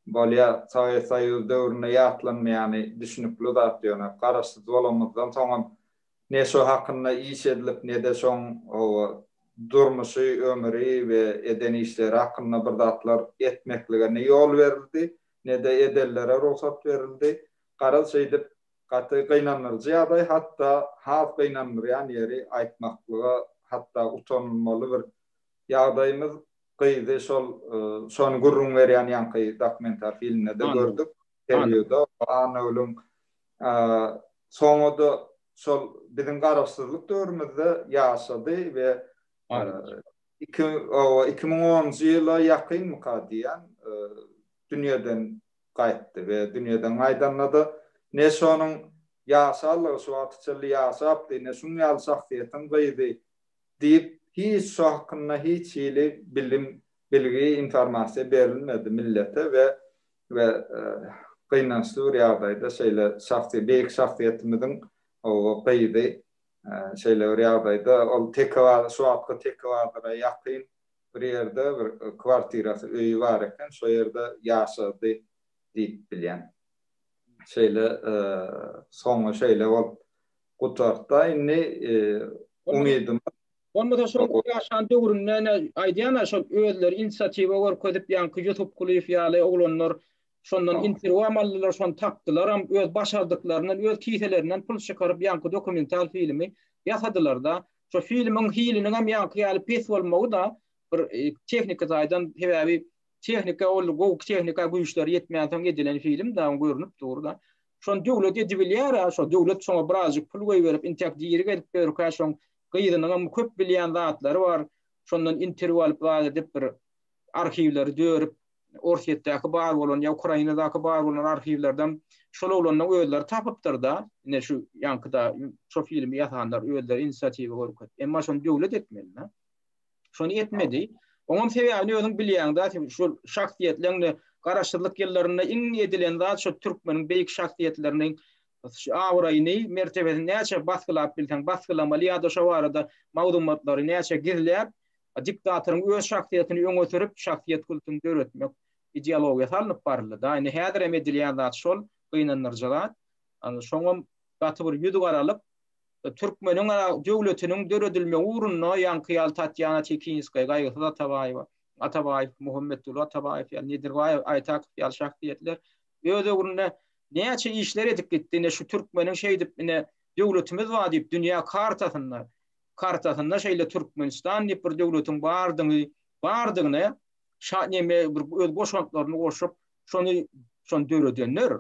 Bolýa, Sowet Soýuzy döwründe ýatlanmaýany düşnükli zat ýöne, garaşsyz bolanymyzdan soňam ne şo hakynda iş edilip ne-de şoň howa, durmuşy, ömüri we eden işleri hakynda bir zatlar etmeklige ne ýol berildi, ne-de edenlere rugsat berildi. Garaz şeýdip, gaty gynandyryjy ýagdaý, hatda has gynandyrýan ýeri aýtmaklyga hatda utanylmaly bir ýagdaýymyz, Gyzy şol şony gürrüň berýän ýaňky dokumental filmde-de gördük. Interwýuda Annagulyň soňa-da şol biziň garaşsyzlyk döwrümizde ýaşady we iki iki müň onunjy ýyla ýakynmyka diýýän dünýeden gaýtdy we dünýeden gaýdanda-da ne şonuň ýaşanlygy şu wagta çenli ýaşapdy, ne şuň ýaly şahsyýetiň gyzy diýip, hiç şu hakynda hiç hili bilim, bilgi, informasiýa berilmedi millete we we gynançly bir ýagdaýda şeýle şahsy beýik şahsyýetimiziň gyzy şeýle bir ýagdaýda ol Tekebazar şu wagtky Tekebazara ýakyn bir ýerde bir kwartirasy, öýi bar eken, şo ýerde ýaşady diýip bilýän. Şeýle soňy şeýle bolup Gutartda indi umydymy. Bolmasa şol ýaşan döwründe ene aýdýan-a şol özleri inisiatiwa görkezip ýaňky Ýusup Kulyýew ýaly oglanlar şondan interwýuam aldylar şony tapdylaram öz başardyklaryndan öz kiselerinden pul çykaryp ýaňky dokumental filmi ýasadylarda şo filmiň hiliniň hem ýaňky ýaly pes bolmagy-da bir tehnika taýdan sebäbi tehnika ol gowy tehnika güýçleri ýetmänsoň edilen film-de görnüp dur-da Şony döwlet edibilýär-ä, şo döwlet şoňa birazjyk pul goýberip, intäk diri gezip ýörkä, şoň gyzynyňam köp bilýän zatlary bar, şondan interwýu alyp zat edip, bir arhiwleri dörüp, Orsýetdäki bar bolan ýa Ukrainadaky bar bolan arhiwlerden şol oglanyň özleri tapypdyr-da, ine şu ýaňky-da şo filmi ýasanlar özleri inisiatiwa görkezip. Emma şony döwlet etmeli-dä. Şony etmedi. Oňam sebäbini özüň bilýäňdä, şu şahsyýetleňde garaşsyzlyk ýyllarynda iň edilen zat şu türkmeniň beýik şahsyýetleriniň abraýyny, mertebesini näçe basgylap bilseň basgylamaly ýa-da şo barada maglumatlary näçe gizläp, diktatoryň öz şahsyýetini öňe sürüp, şahsyýet kultuny döretmek ideologiýasy alnyp baryldy-da. Indi häzirem edilýän zat şol, gynandyryjy zat. Şoňam gaty bir ýüz garalyp, Türkmeniň-ä döwletiniň döredilmegi ugrunda ýaňky ýaly Tatýana Tekinskaý, Gaýgysyz Atabaýewa, Atabaýew, Muhammetguly Atabaýew ýaly, Nedirbaýew, Aýtakow ýaly şahsyýetler öz ögründe näçe işler edip gitdi. Ine, şu türkmeniň şeýdip, ine, döwletimiz bar diýip, dünýä kartasynda, kartasynda şeýle Türkmenistan diýip bir döwletiň bardygy, bardygyny şa neme bir öz goşantlaryny goşup, şony, şony döredenler.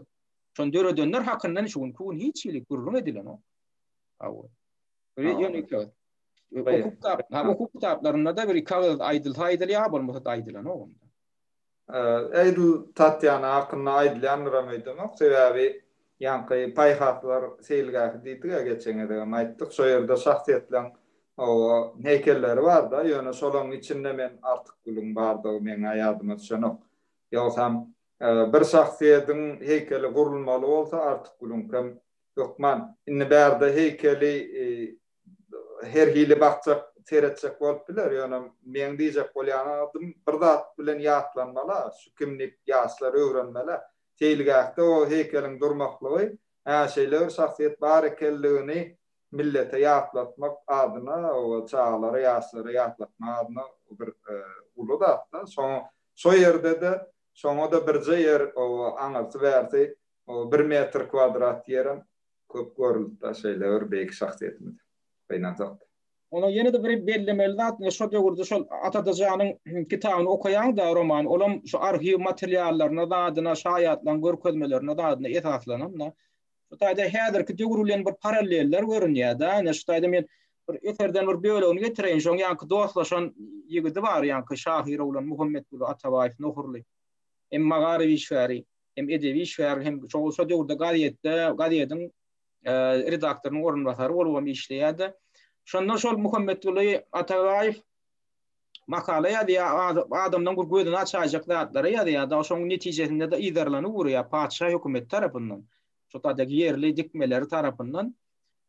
Şony döredenler hakyndan şu günki gün hiç hili gürrüň edilenok. Hawa. Ýöne Hukuk kitaplarynda da bir kagyz aýdylsa aýdylýar, bolmasa-da aýdylanok onda. Edil Tatýana hakynda aýdylýandyram öýdemok, sebäbi ýaňky paýhaslar seýilgähi diýdik-ä geçen gezegem aýtdyk, şo ýerde şahsyýetleriň heýkelleri bar-da, ýöne şolaryň içinde men Artykgulyň bardygy meň-ä ýadyma düşenok. Ýogsam Bir şahsyýediň heýkeli gurulmaly bolsa artyk gülüňkem hökman. Indi bärde heýkeli her hili bakjak, seretjek bolup biler, ýöne meň diýjek bolýan adym bir zat bilen ýatlanmala, şu kimlik ýaşlar öwrenmeli. Seýilgähde o heýkeliň durmaklygy, hä şeýle bir şahsyýet bar ekenligini millete ýatlatmak adyna we çagalara, ýaşlara ýatlatmak adyna bir uly zat-da. Şo ýerde-de şoňa-da birje ýer aňyrsy-bärsi bir metr kwadrat ýerem köp görüldi-de şeýle bir beýik şahsyýetimize. Gynansak-da. Onsoň ýene-de bir bellemeli zat, ine, şo döwürde şol Ataja janyň kitabyny okaýaň-da, romany, olam şu arhiw materiallaryna, zadyna, şaýatlaryň görkezmelerine, zadyna esaslanan-da. Şu taýda häzirki döwür bilen bir paralleller görünýär-de, ine şu taýda men bir eserden bir bölegini getireýin, şoň ýaňky dostlaşan ýigidi bar, ýaňky şahyr oglan Muhammetguly Atabaýew, Nohurly. Hem magaryf işgäri, hem edebi işgär, hem şo şo döwürde gazetde, gazediň redaktorynyň orunbasary bolubam işleýär-de. Şonda şol Muhammetguly Atabaýew makala ýazýar, adamlaryň bir gözüni açaýjak zatlary ýazýar-da, şonuň netijesinde-de yzarlanyp urýar patyşa hökümeti tarapyndan, şo taýdaky ýerli dikmeleri tarapyndan.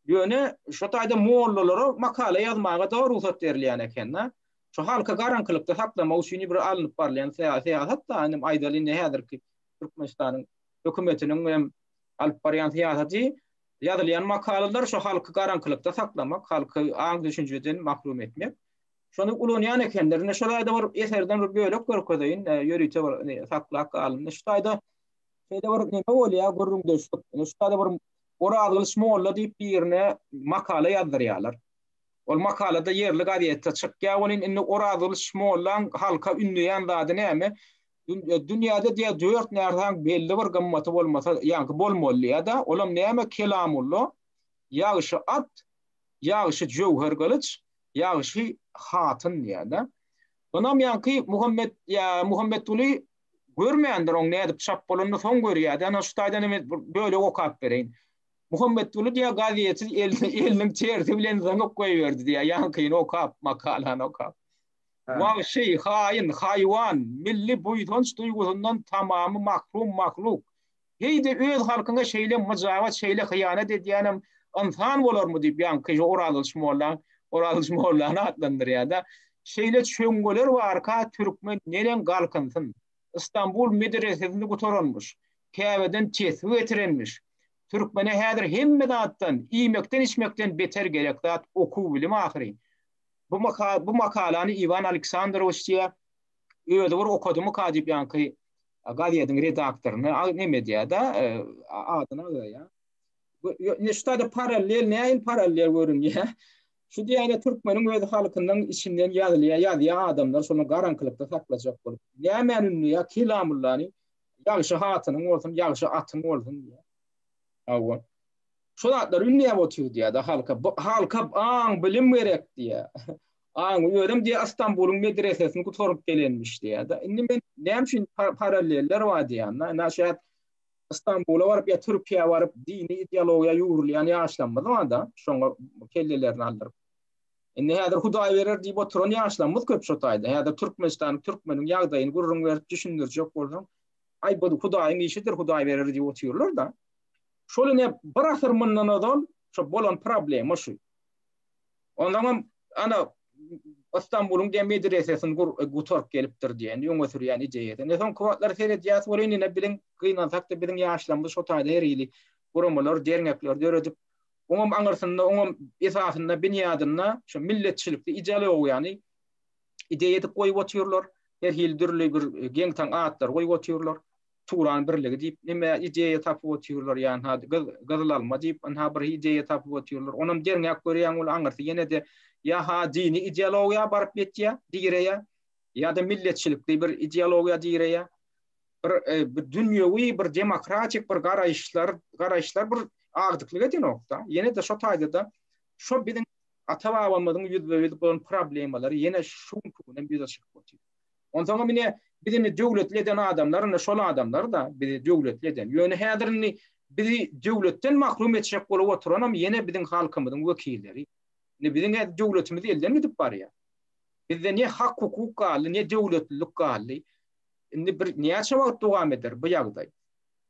Ýöne şo taýda mollalara makala ýazmaga-da rugsat berilýän eken-de. Şo halky garaňkylykda saklamak üçin bir alnyp barylýan syýasat-da, indi aýdaly indi häzirki Türkmenistanyň hökümetiniň hem alyp barýan syýasaty, ýazylýan makalalar şo halky garaňkylykda saklamak, halky aň-düşünjeden mahrum etmek. Şony ulanýan ekenler. Indi şu taýda bir eserden bir bölek görkezeýin, ýörite bir saklap galyndy. Şu taýda şeýle bir neme bolýar, gürrüňdeşlik. Indi şu taýda bir Orazgylyç molla diýip birine makala ýazdyrýarlar. Ol makalada ýerli gazetde çykýar welin indi Orazgylyç mollaň halka ündeýän zady näme? Dünýäde diýýär dört närsäň belli bir gymmaty bolmasa, ýaňky bolmaly diýýär-de, olam näme? Kelamullo, ýagşy at, ýagşy jöwher gylyç, Ýagşy hatyn diýýär-de. Ynamýanky Muhammet ýa Muhammetguly görmändir oň nädip çap bolanyny soň görýär-de. Ana şu taýdan hem bir bölek okap bereýin. Muhammetguly diýýär gazeti eliniň tersi bilen zyňyp goýberdi diýýär ýankyny okap, makalany okap. Wagşy, haýyn, haýwan, milli buýsanç duýgusyndan tamamy mahrum mahluk, Heý-de öz halkyňa şeýle myjabat, şeýle hyýanat edýänem ynsan bolarmy diýip, ýaňky şu Orazgylyç molla, Orazgylyç mollany atlandyrýar-da. Şeýle çöňňeler barka, türkmen neneň galkynsyn. Stambul medresesini gutaranmyş. Käbeden tesbi getirenmiş. Türkmene häzir hemme zatdan, iýmekden-içmekden beter gerek zat okuw-bilim ahyry. Bu makalany Iwan Aleksandrowiç diýýär. Özi bir okadymyka diýip ýaňky gazediň redaktoryna a neme edýär-de, adyny agzaýar. Ýöne şuda-da parallel, nähili parallel görünýär? Şu diýýän-ä türkmeniň öz halkynyň içinden ýazylýar, ýazýar adamlar şony garaňkylykda saklajak bolup. Nämäni ündeýär? Kelamullany, Ýagşy hatynyň bolsun, ýagşy atyň bolsun diýýär. Hawa. Şu zatlary ündeýäp otyr diýýär-de halka. Halka aň, bilim gerek diýýär. Aň, özem diýýär, Stambulyň medresesini gutaryp gelenmiş diýýär-de. Indi men näme üçin paralleller bar diýýän-de. Näşe Stambula baryp ýa Türkiýä baryp dini ideologiýa ýugrulýan ýaşlarymyz bar-da, şoňa kellelerini aldyryp. Indi häzir Hudaý berer diýip oturan ýaşlarymyz köp şo taýda. Häzir Türkmenistanyň, türkmeniň ýagdaýyny gürrüň berip düşündirjek bolsaň, Aý, bu Hudaýyň işidir, Hudaý berer diýip otyrlar-da. Şol ine bir asyr mundan ozal şo bolan problema şu. Onsoňam, ana, Ystambulyň diýen medresesini gur, gutaryp gelipdir diýen, öňe sürýän ideýasy. Ine, soňky wagtlar seredýäs, ol indi ine biziň, gynansak-da, biziň ýaşlarymyz şo taýda her hili guramalar, dernekler döredip, oňam aňyrsynda, oňam esasynda, binýadynda şu milletçilikli ideologiýany ideýa edip goýup otyrlar, her hili dürli bir geň-taň atlar goýup otyrlar. Turan birligi diýip neme ideýa tapyp otyrlar ýa ynha gyz gyzylalma diýip ynha bir ideýa tapyp otyrlar. Onam derňäp görýäň ol aňyrsy ýene-de ýa-ha dini ideologiýa baryp ýetýär, direýär, ýa-da milletçilikli bir ideologiýa direýär. Bir bir dünýewi bir demokratik bir garaýyşlar garaýyşlar bir agdyklyk edenok-da. Ýene-de şo taýda-da şo biziň ata-babamyzyň ýüzbe-ýüz bolan problemalary ýene şu günki gün hem ýüze çykyp otyr. Onsoň hem ine, biz indi döwletli eden adamlar indi şol adamlar-da, bizi döwletli eden. Ýöne häzir indi bizi döwletden mahrum etjek bolup oturanam ýene biziň halkymyzyň wekilleri. Indi biziň häzir döwletimiz elden gidip barýar. Bizde ne hak-hukuk galdy, ne döwletlilik galdy. Indi bir näçe wagt dowam eder bu ýagdaý?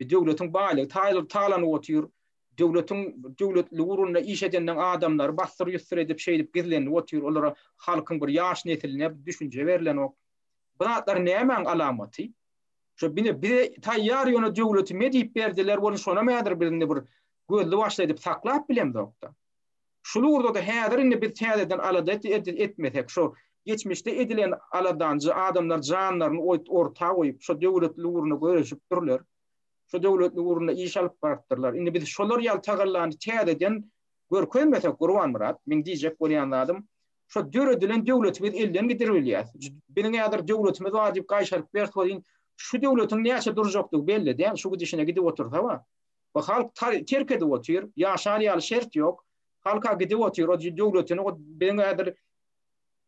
Döwletiň baýlygy taýlanyp otyr. Döwletiň döwletli ugrunda iş edenden adamlary bassyr-ýussur edip şeýdip gizlenilip otyr olara halkyň bir ýaş nesiline düşünje berilenok bu zatlar nämäň alamaty şo bine bize taýýar ýöne döwleti me diýip berdiler ony şonam häzir bir indi bir gözli başly edip saklap bilemzokda şul ugurdada häzir indi biz täzeden alada etmesek şo geçmişde edilen aladanjy adamlar janlaryny oýt orta goýup şo döwletli ugruna göreşipdirler şu döwletli ugrunda iş alyp barypdyrlar. Indi biz şolar ýaly tagallany täzeden görkezmesek, Gurbanmyrat, meň diýjek bolýan zadym, şo döredilen döwleti biz elden gidirip bilýäs. Biziň häzir döwletimiz bar diýip gaýşaryp bers welin, şu döwletiň näçe durjakdygy belli däl, şu gidişine gidip otursa-a, bu halk terk edip otyr, ýaşar ýaly şert ýok, halk-a gidip otyr, o döwletini, o biziň häzir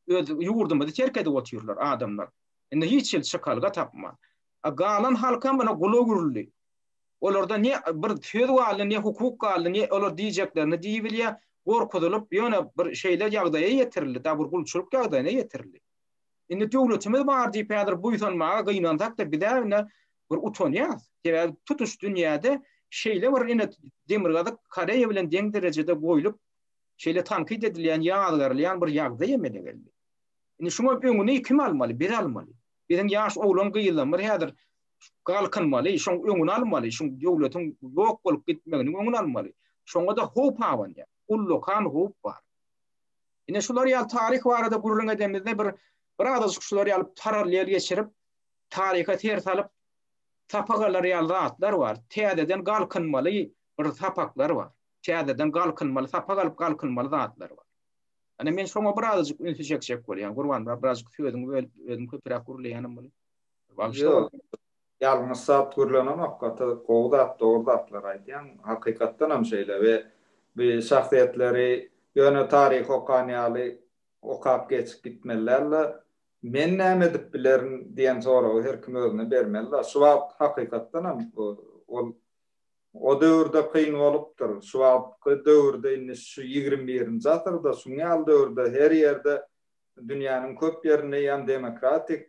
öz ýurdumyzy terk edip otyrlar adamlar. Indi hiç hili çykalga tapman. A galan halkam ýna gulak uruldy. Olarda ne bir söz galdy, ne hukuk galdy, ne olar diýjeklerini diýibilýär, gorkuzylyp, ýöne bir şeýle ýagdaýa ýetirildi, dabur gulçulyk ýagdaýyna ýetirildi. Indi döwletimiz bar diýip häzir buýsanmaga gynansak-da biz-ä ine bir utanýarys. Sebäbi tutuş dünýäde şeýle bir ine Demirgazyk Koreýa bilen deň derejede goýlup, şeýle tankyt edilýän, ýazgarylýan bir ýagdaý emele geldi. Indi şuňa öňüni kim almaly? Biz almaly. Biziň ýaş oglan-gyzlarymyz häzir galkynmaly, şoň öňüni almaly, şoň döwletiň ýok bolup gitmeginiň öňüni almaly. Şoňa-da howp abanýar. Ullakan howp bar. Ine şular ýaly taryh barada gürrüň edemizde bir bir azajyk şular ýaly parallel geçirip, taryha ser salyp sapak alar ýaly zatlar bar. Täzeden galkynmaly bir sapaklar bar. Täzeden galkynmaly, sapak alyp galkynmaly zatlar bar. Ýöne men şoňa birazajyk ünsi çekjek bolýan. Gurban, birazajyk sözüňi bölüp, özüm köpräk gürleýänem bolýar. Bagşy. Ýalňyş zat gürlenemok, gaty gowy zat, dogry zatlar aýdýaň. Hakykatdan hem şeýle we bu şahsyýetleri ýöne taryhy okan ýaly okap geçip gitmeli dälde. Men näme edip bilerin diýen soragy her kim özüne bermeli-de. Şu wagt hakykatdan hem ol O döwürde kyn bolupdyr. Şu wagtky döwürde indi şu ýigrimi birinji asyrda şuň ýaly döwürde her ýerde dünýäniň köp ýerinde ýan demokratik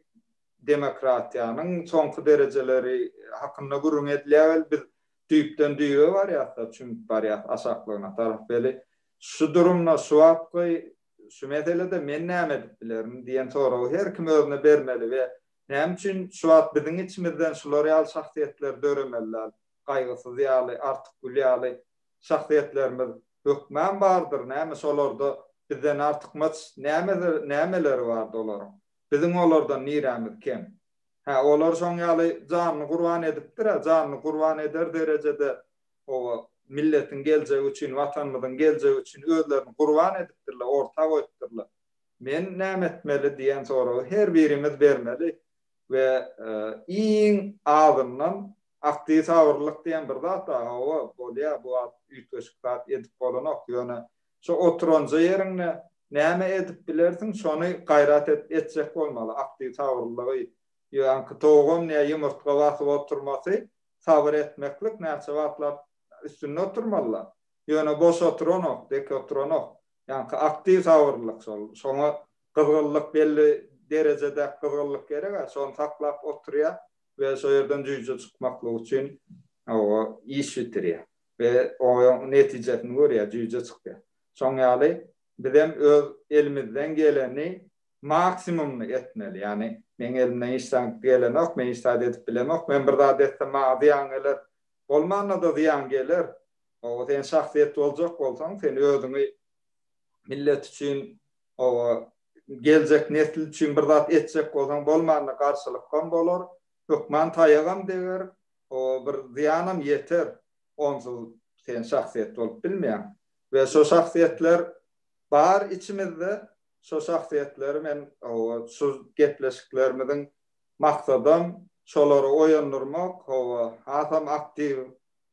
demokratiýanyň soňky derejeleri hakynda gürrüň edilýär weli biz düýpden düýe barýasda çümüp barýas aşaklygyna tarap weli şu durumda şu wagtky şu meselede men näme edip bilerin diýen soragy her kim özüne bermeli we Näme üçin şu wagt biziň içimizden şular ýaly şahsyýetler döremeli däl? Gaýgysyz ýaly, Artykgül ýaly şahsyýetlerimiz hökman bardyr, näme şolarda bizden artykmaç nämeleri bardy olaryň? Biziň olardan nirämiz kem? Hä, olar şoň ýaly janyny gurban edipdir-ä, janyny gurban eder derejede oba, milletiň geljegi üçin, Watanymyzyň geljegi üçin özlerini gurban edipdirler, orta goýupdyrlar. Men näme etmeli diýen soragy her birimiz bermeli we iň azyndan aktiw sabyrlylyk diýen bir zat bar, hawa, bolýar bu wagt üýtgeşik zat edip bolanok, ýöne şo oturanja ýeriňde näme edip bilersiň şony gaýrat edip etjek bolmaly, aktiw sabyrlylygy ýöňki towugam nä ýumurtga basyp oturmasy sabyr etmeklik näçe wagtlap üstünde oturmalylar, ýöne boş oturanok, dek oturanok, Ýaňky aktiw sabyrlylyk şol. Şoňa gyzgynlyk belli derejedäki gyzgynlyk gerek-ä. Şony saklap oturýar we şo ýerden jüýje çykmaklyk üçin oba iş bitirýär we oýaň netijesini görýär, jüýje çykýar. Şoň ýaly bizem öz elimizden geleni maksimumyny etmeli. Ýagny meň elimden hiç zat gelenok, men hiç zat edip bilemok, men bir zat etsem maňa zyýan geler, bolmanda-da zyýan geler, Oba sen şahsyýet boljak bolsaň, sen özüňi millet üçin, oba geljek nesil üçin bir zat etjek bolsaň, bolmanda garşylykam bolar, hökman taýagam deger, oba bir zyýanam ýeter. Onsuz sen şahsyýet bolup bilmeýäň. We şo şahsyýetler bar içimizde. Şo şahsyýetleri men, oba şu gepleşiklerimiziň maksadam şolary oýandyrmak, oba hasam aktiw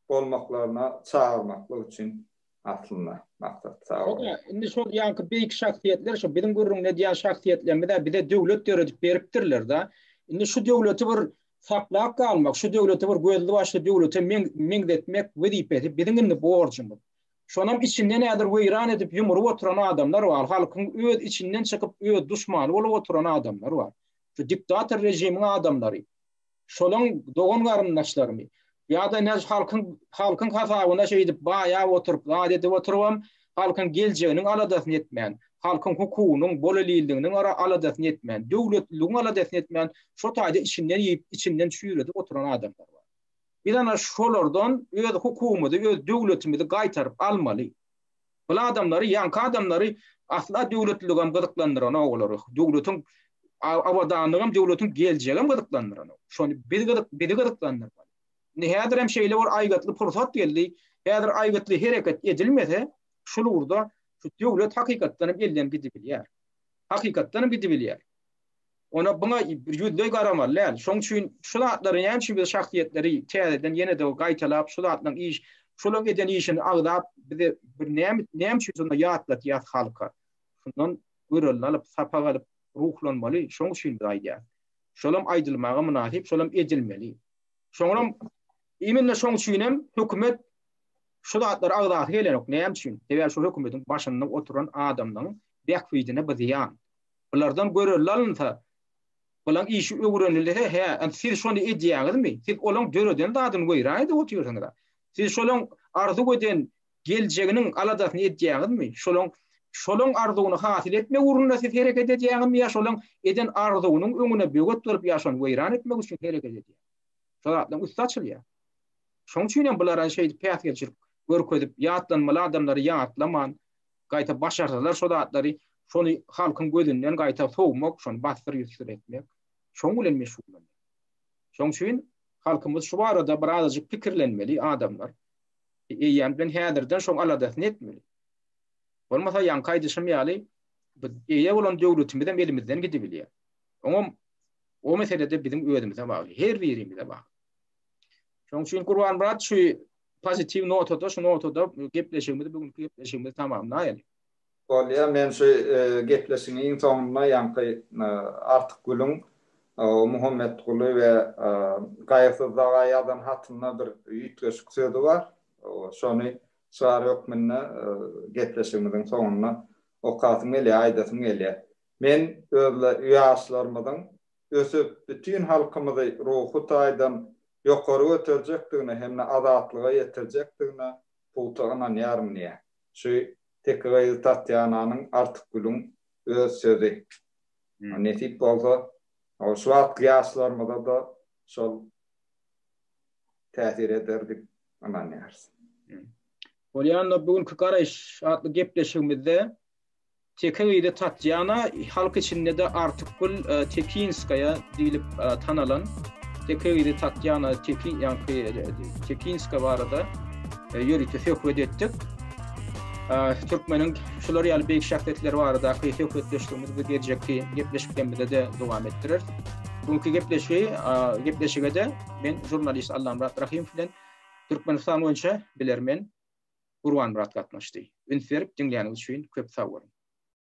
bolmaklaryna çagyrmaklyk üçin aslynda maksat. Sag boluň. Ine, indi şol ýaňky beýik şahsyýetler şu biziň gürrüňini edýän şahsyýetlerimiz-ä bize döwlet döredip beripdirler-de. Indi şu döwleti bir saklap galmak, şu döwleti bir gözli-başly döwlete meňzetmek wezipesi biziň indi borjumyz. Şonam içinde nädir weýran edip, ýumrup oturan adamlar bar. Halkyň öz içinden çykyp, öz duşmany bolup oturan adamlar bar. Şu diktator režimiň adamlary. Şolaň dogan-garyndaşlarymy ýa-da näj halkyň halkyň hasabyna şeýdip baýap oturyp, zat edip oturybam, halkyň geljeginiň aladasyny etmän, halkyň hukugynyň, bolelilliginiň ara aladasyny etmän, döwletliligiň aladasyny etmän, şo taýda içinden iýip, içinden çüýredip oturan adamlar bar. Biz ana şolardan öz hukugymyzy, öz döwletimizi gaýtaryp almaly. Bul adamlary ýaňky adamlary asla döwletliligem gyzyklandyranok olary. Döwletiň abadanlygam döwletiň geljegem gyzyklandyranok. Şony biz gyzyk bizi gyzyklandyrmaly. Indi häzirem şeýle bir aýgytly pursat geldi. Häzir aýgytly hereket edilmese şul ugurda şu döwlet hakykatdanam elden gidibilýär. Hakykatdanam gidibilýär. Ony buňa ýüzleý garamaly däl. Şoň üçin şu zatlary näme üçin biz şahsyýetleri täzeden ýene-de gaýtalap şu zatlaryň iş şolaryň eden işini agzap bize bir näme näme üçin şonda ýatlatýas halka. Şundan görelini alyp sapak alyp ruhlanmaly şoň üçin biz aýdýas. Şolam aýdylmaga mynasyp şolam edilmeli. Şoňam immine şoň üçin hem hökümet şu zatlary agzasy gelenok näme üçin? Sebäbi şu hökümetiň başynda oturan adamlaryň bähbidine bu zyýan. Bulardan görelde alynsa, bulaň işi öwrenilse, hä, ant siz şony edýäňizmi? Siz olaň döreden zadyny weýran-edip otyrsyňyz-a. Siz şolaň arzuw eden geljeginiň aladasyny edýäňizmi? Şolaň şolaň arzuwyny hasyl etmek ugrunda siz hereket edýäňizmi ýa şolaň eden arzuwynyň öňüne böwet bolup ýa şony weýran etmek üçin hereket edýäňizmi? Şol zatlaň üsti açylýar. Şoň üçin hem bulara şeýdip päsgelçilik görkezip, ýatlanmaly adamlary ýatlaman, Gaýta başarsalar şo zatlary, şony halkyň gözünden gaýta sowmak, şony bassyr-ýüssür etmek, şoň bilen meşgullanýar. Şoň üçin halkymyz şu barada bir azajyk pikirlenmeli, adamlar. Eýýäm bilen häzirden şoň aladasyny etmeli. Bolmasa ýaňky aýdyşym ýaly, biz eýe bolan döwletimizem elimizden gidibilýär. Oňam o meselede biziň özümize bagly, her birimize bagly. Şoň üçin Gurbanmyrat şu pozitiw notada şu notada gepleşigimizi bu günki gepleşigimizi tamamlaýaly. Bolýa men şu gepleşigiň iň soňunda ýaňky Artyk Gülüň Muhammetguly we Gaýysyz daga ýazan hatynda bir üýtgeşik sözi bar. Şony çygar hökmünde gepleşigimiziň soňunda okasym gelýär, aýdasym gelýär. Men öz ýaşlarymyzyň ösüp, bütin halkymyzy ruhy taýdan ýokary göterjekdigine hem-de azatlyga ýetirjekdigine pugta ynanýaryn diýýär. Şu teke gyzy Tatýananyň Artykgülüň öz sözi. Nesip bolsa, şu wagtky ýaşlarymyza-da şol täsir eder diýip ynanýarys. Bolýanda bu günki garaýyş atly gepleşigimizde Teke gyzy Tatýana halk içinde-de Artykgül Tekinskaýa diýlip tanalan. Teke gyzy Tatýana Tekinska barada ýörite söhbet etdik. Türkmeniň şular ýaly beýik şahsyýetleri baradaky söhbetdeşligimizi biz geljekki gepleşiklerimizde-de dowam etdireris. Bu günki gepleşigi, gepleşige-de men žurnalist Allamyrat Rahym bilen Türkmenistan boýunça bilermen Gurbanmyrat gatnaşdy. Üns berip diňläniniz üçin köp sag boluň.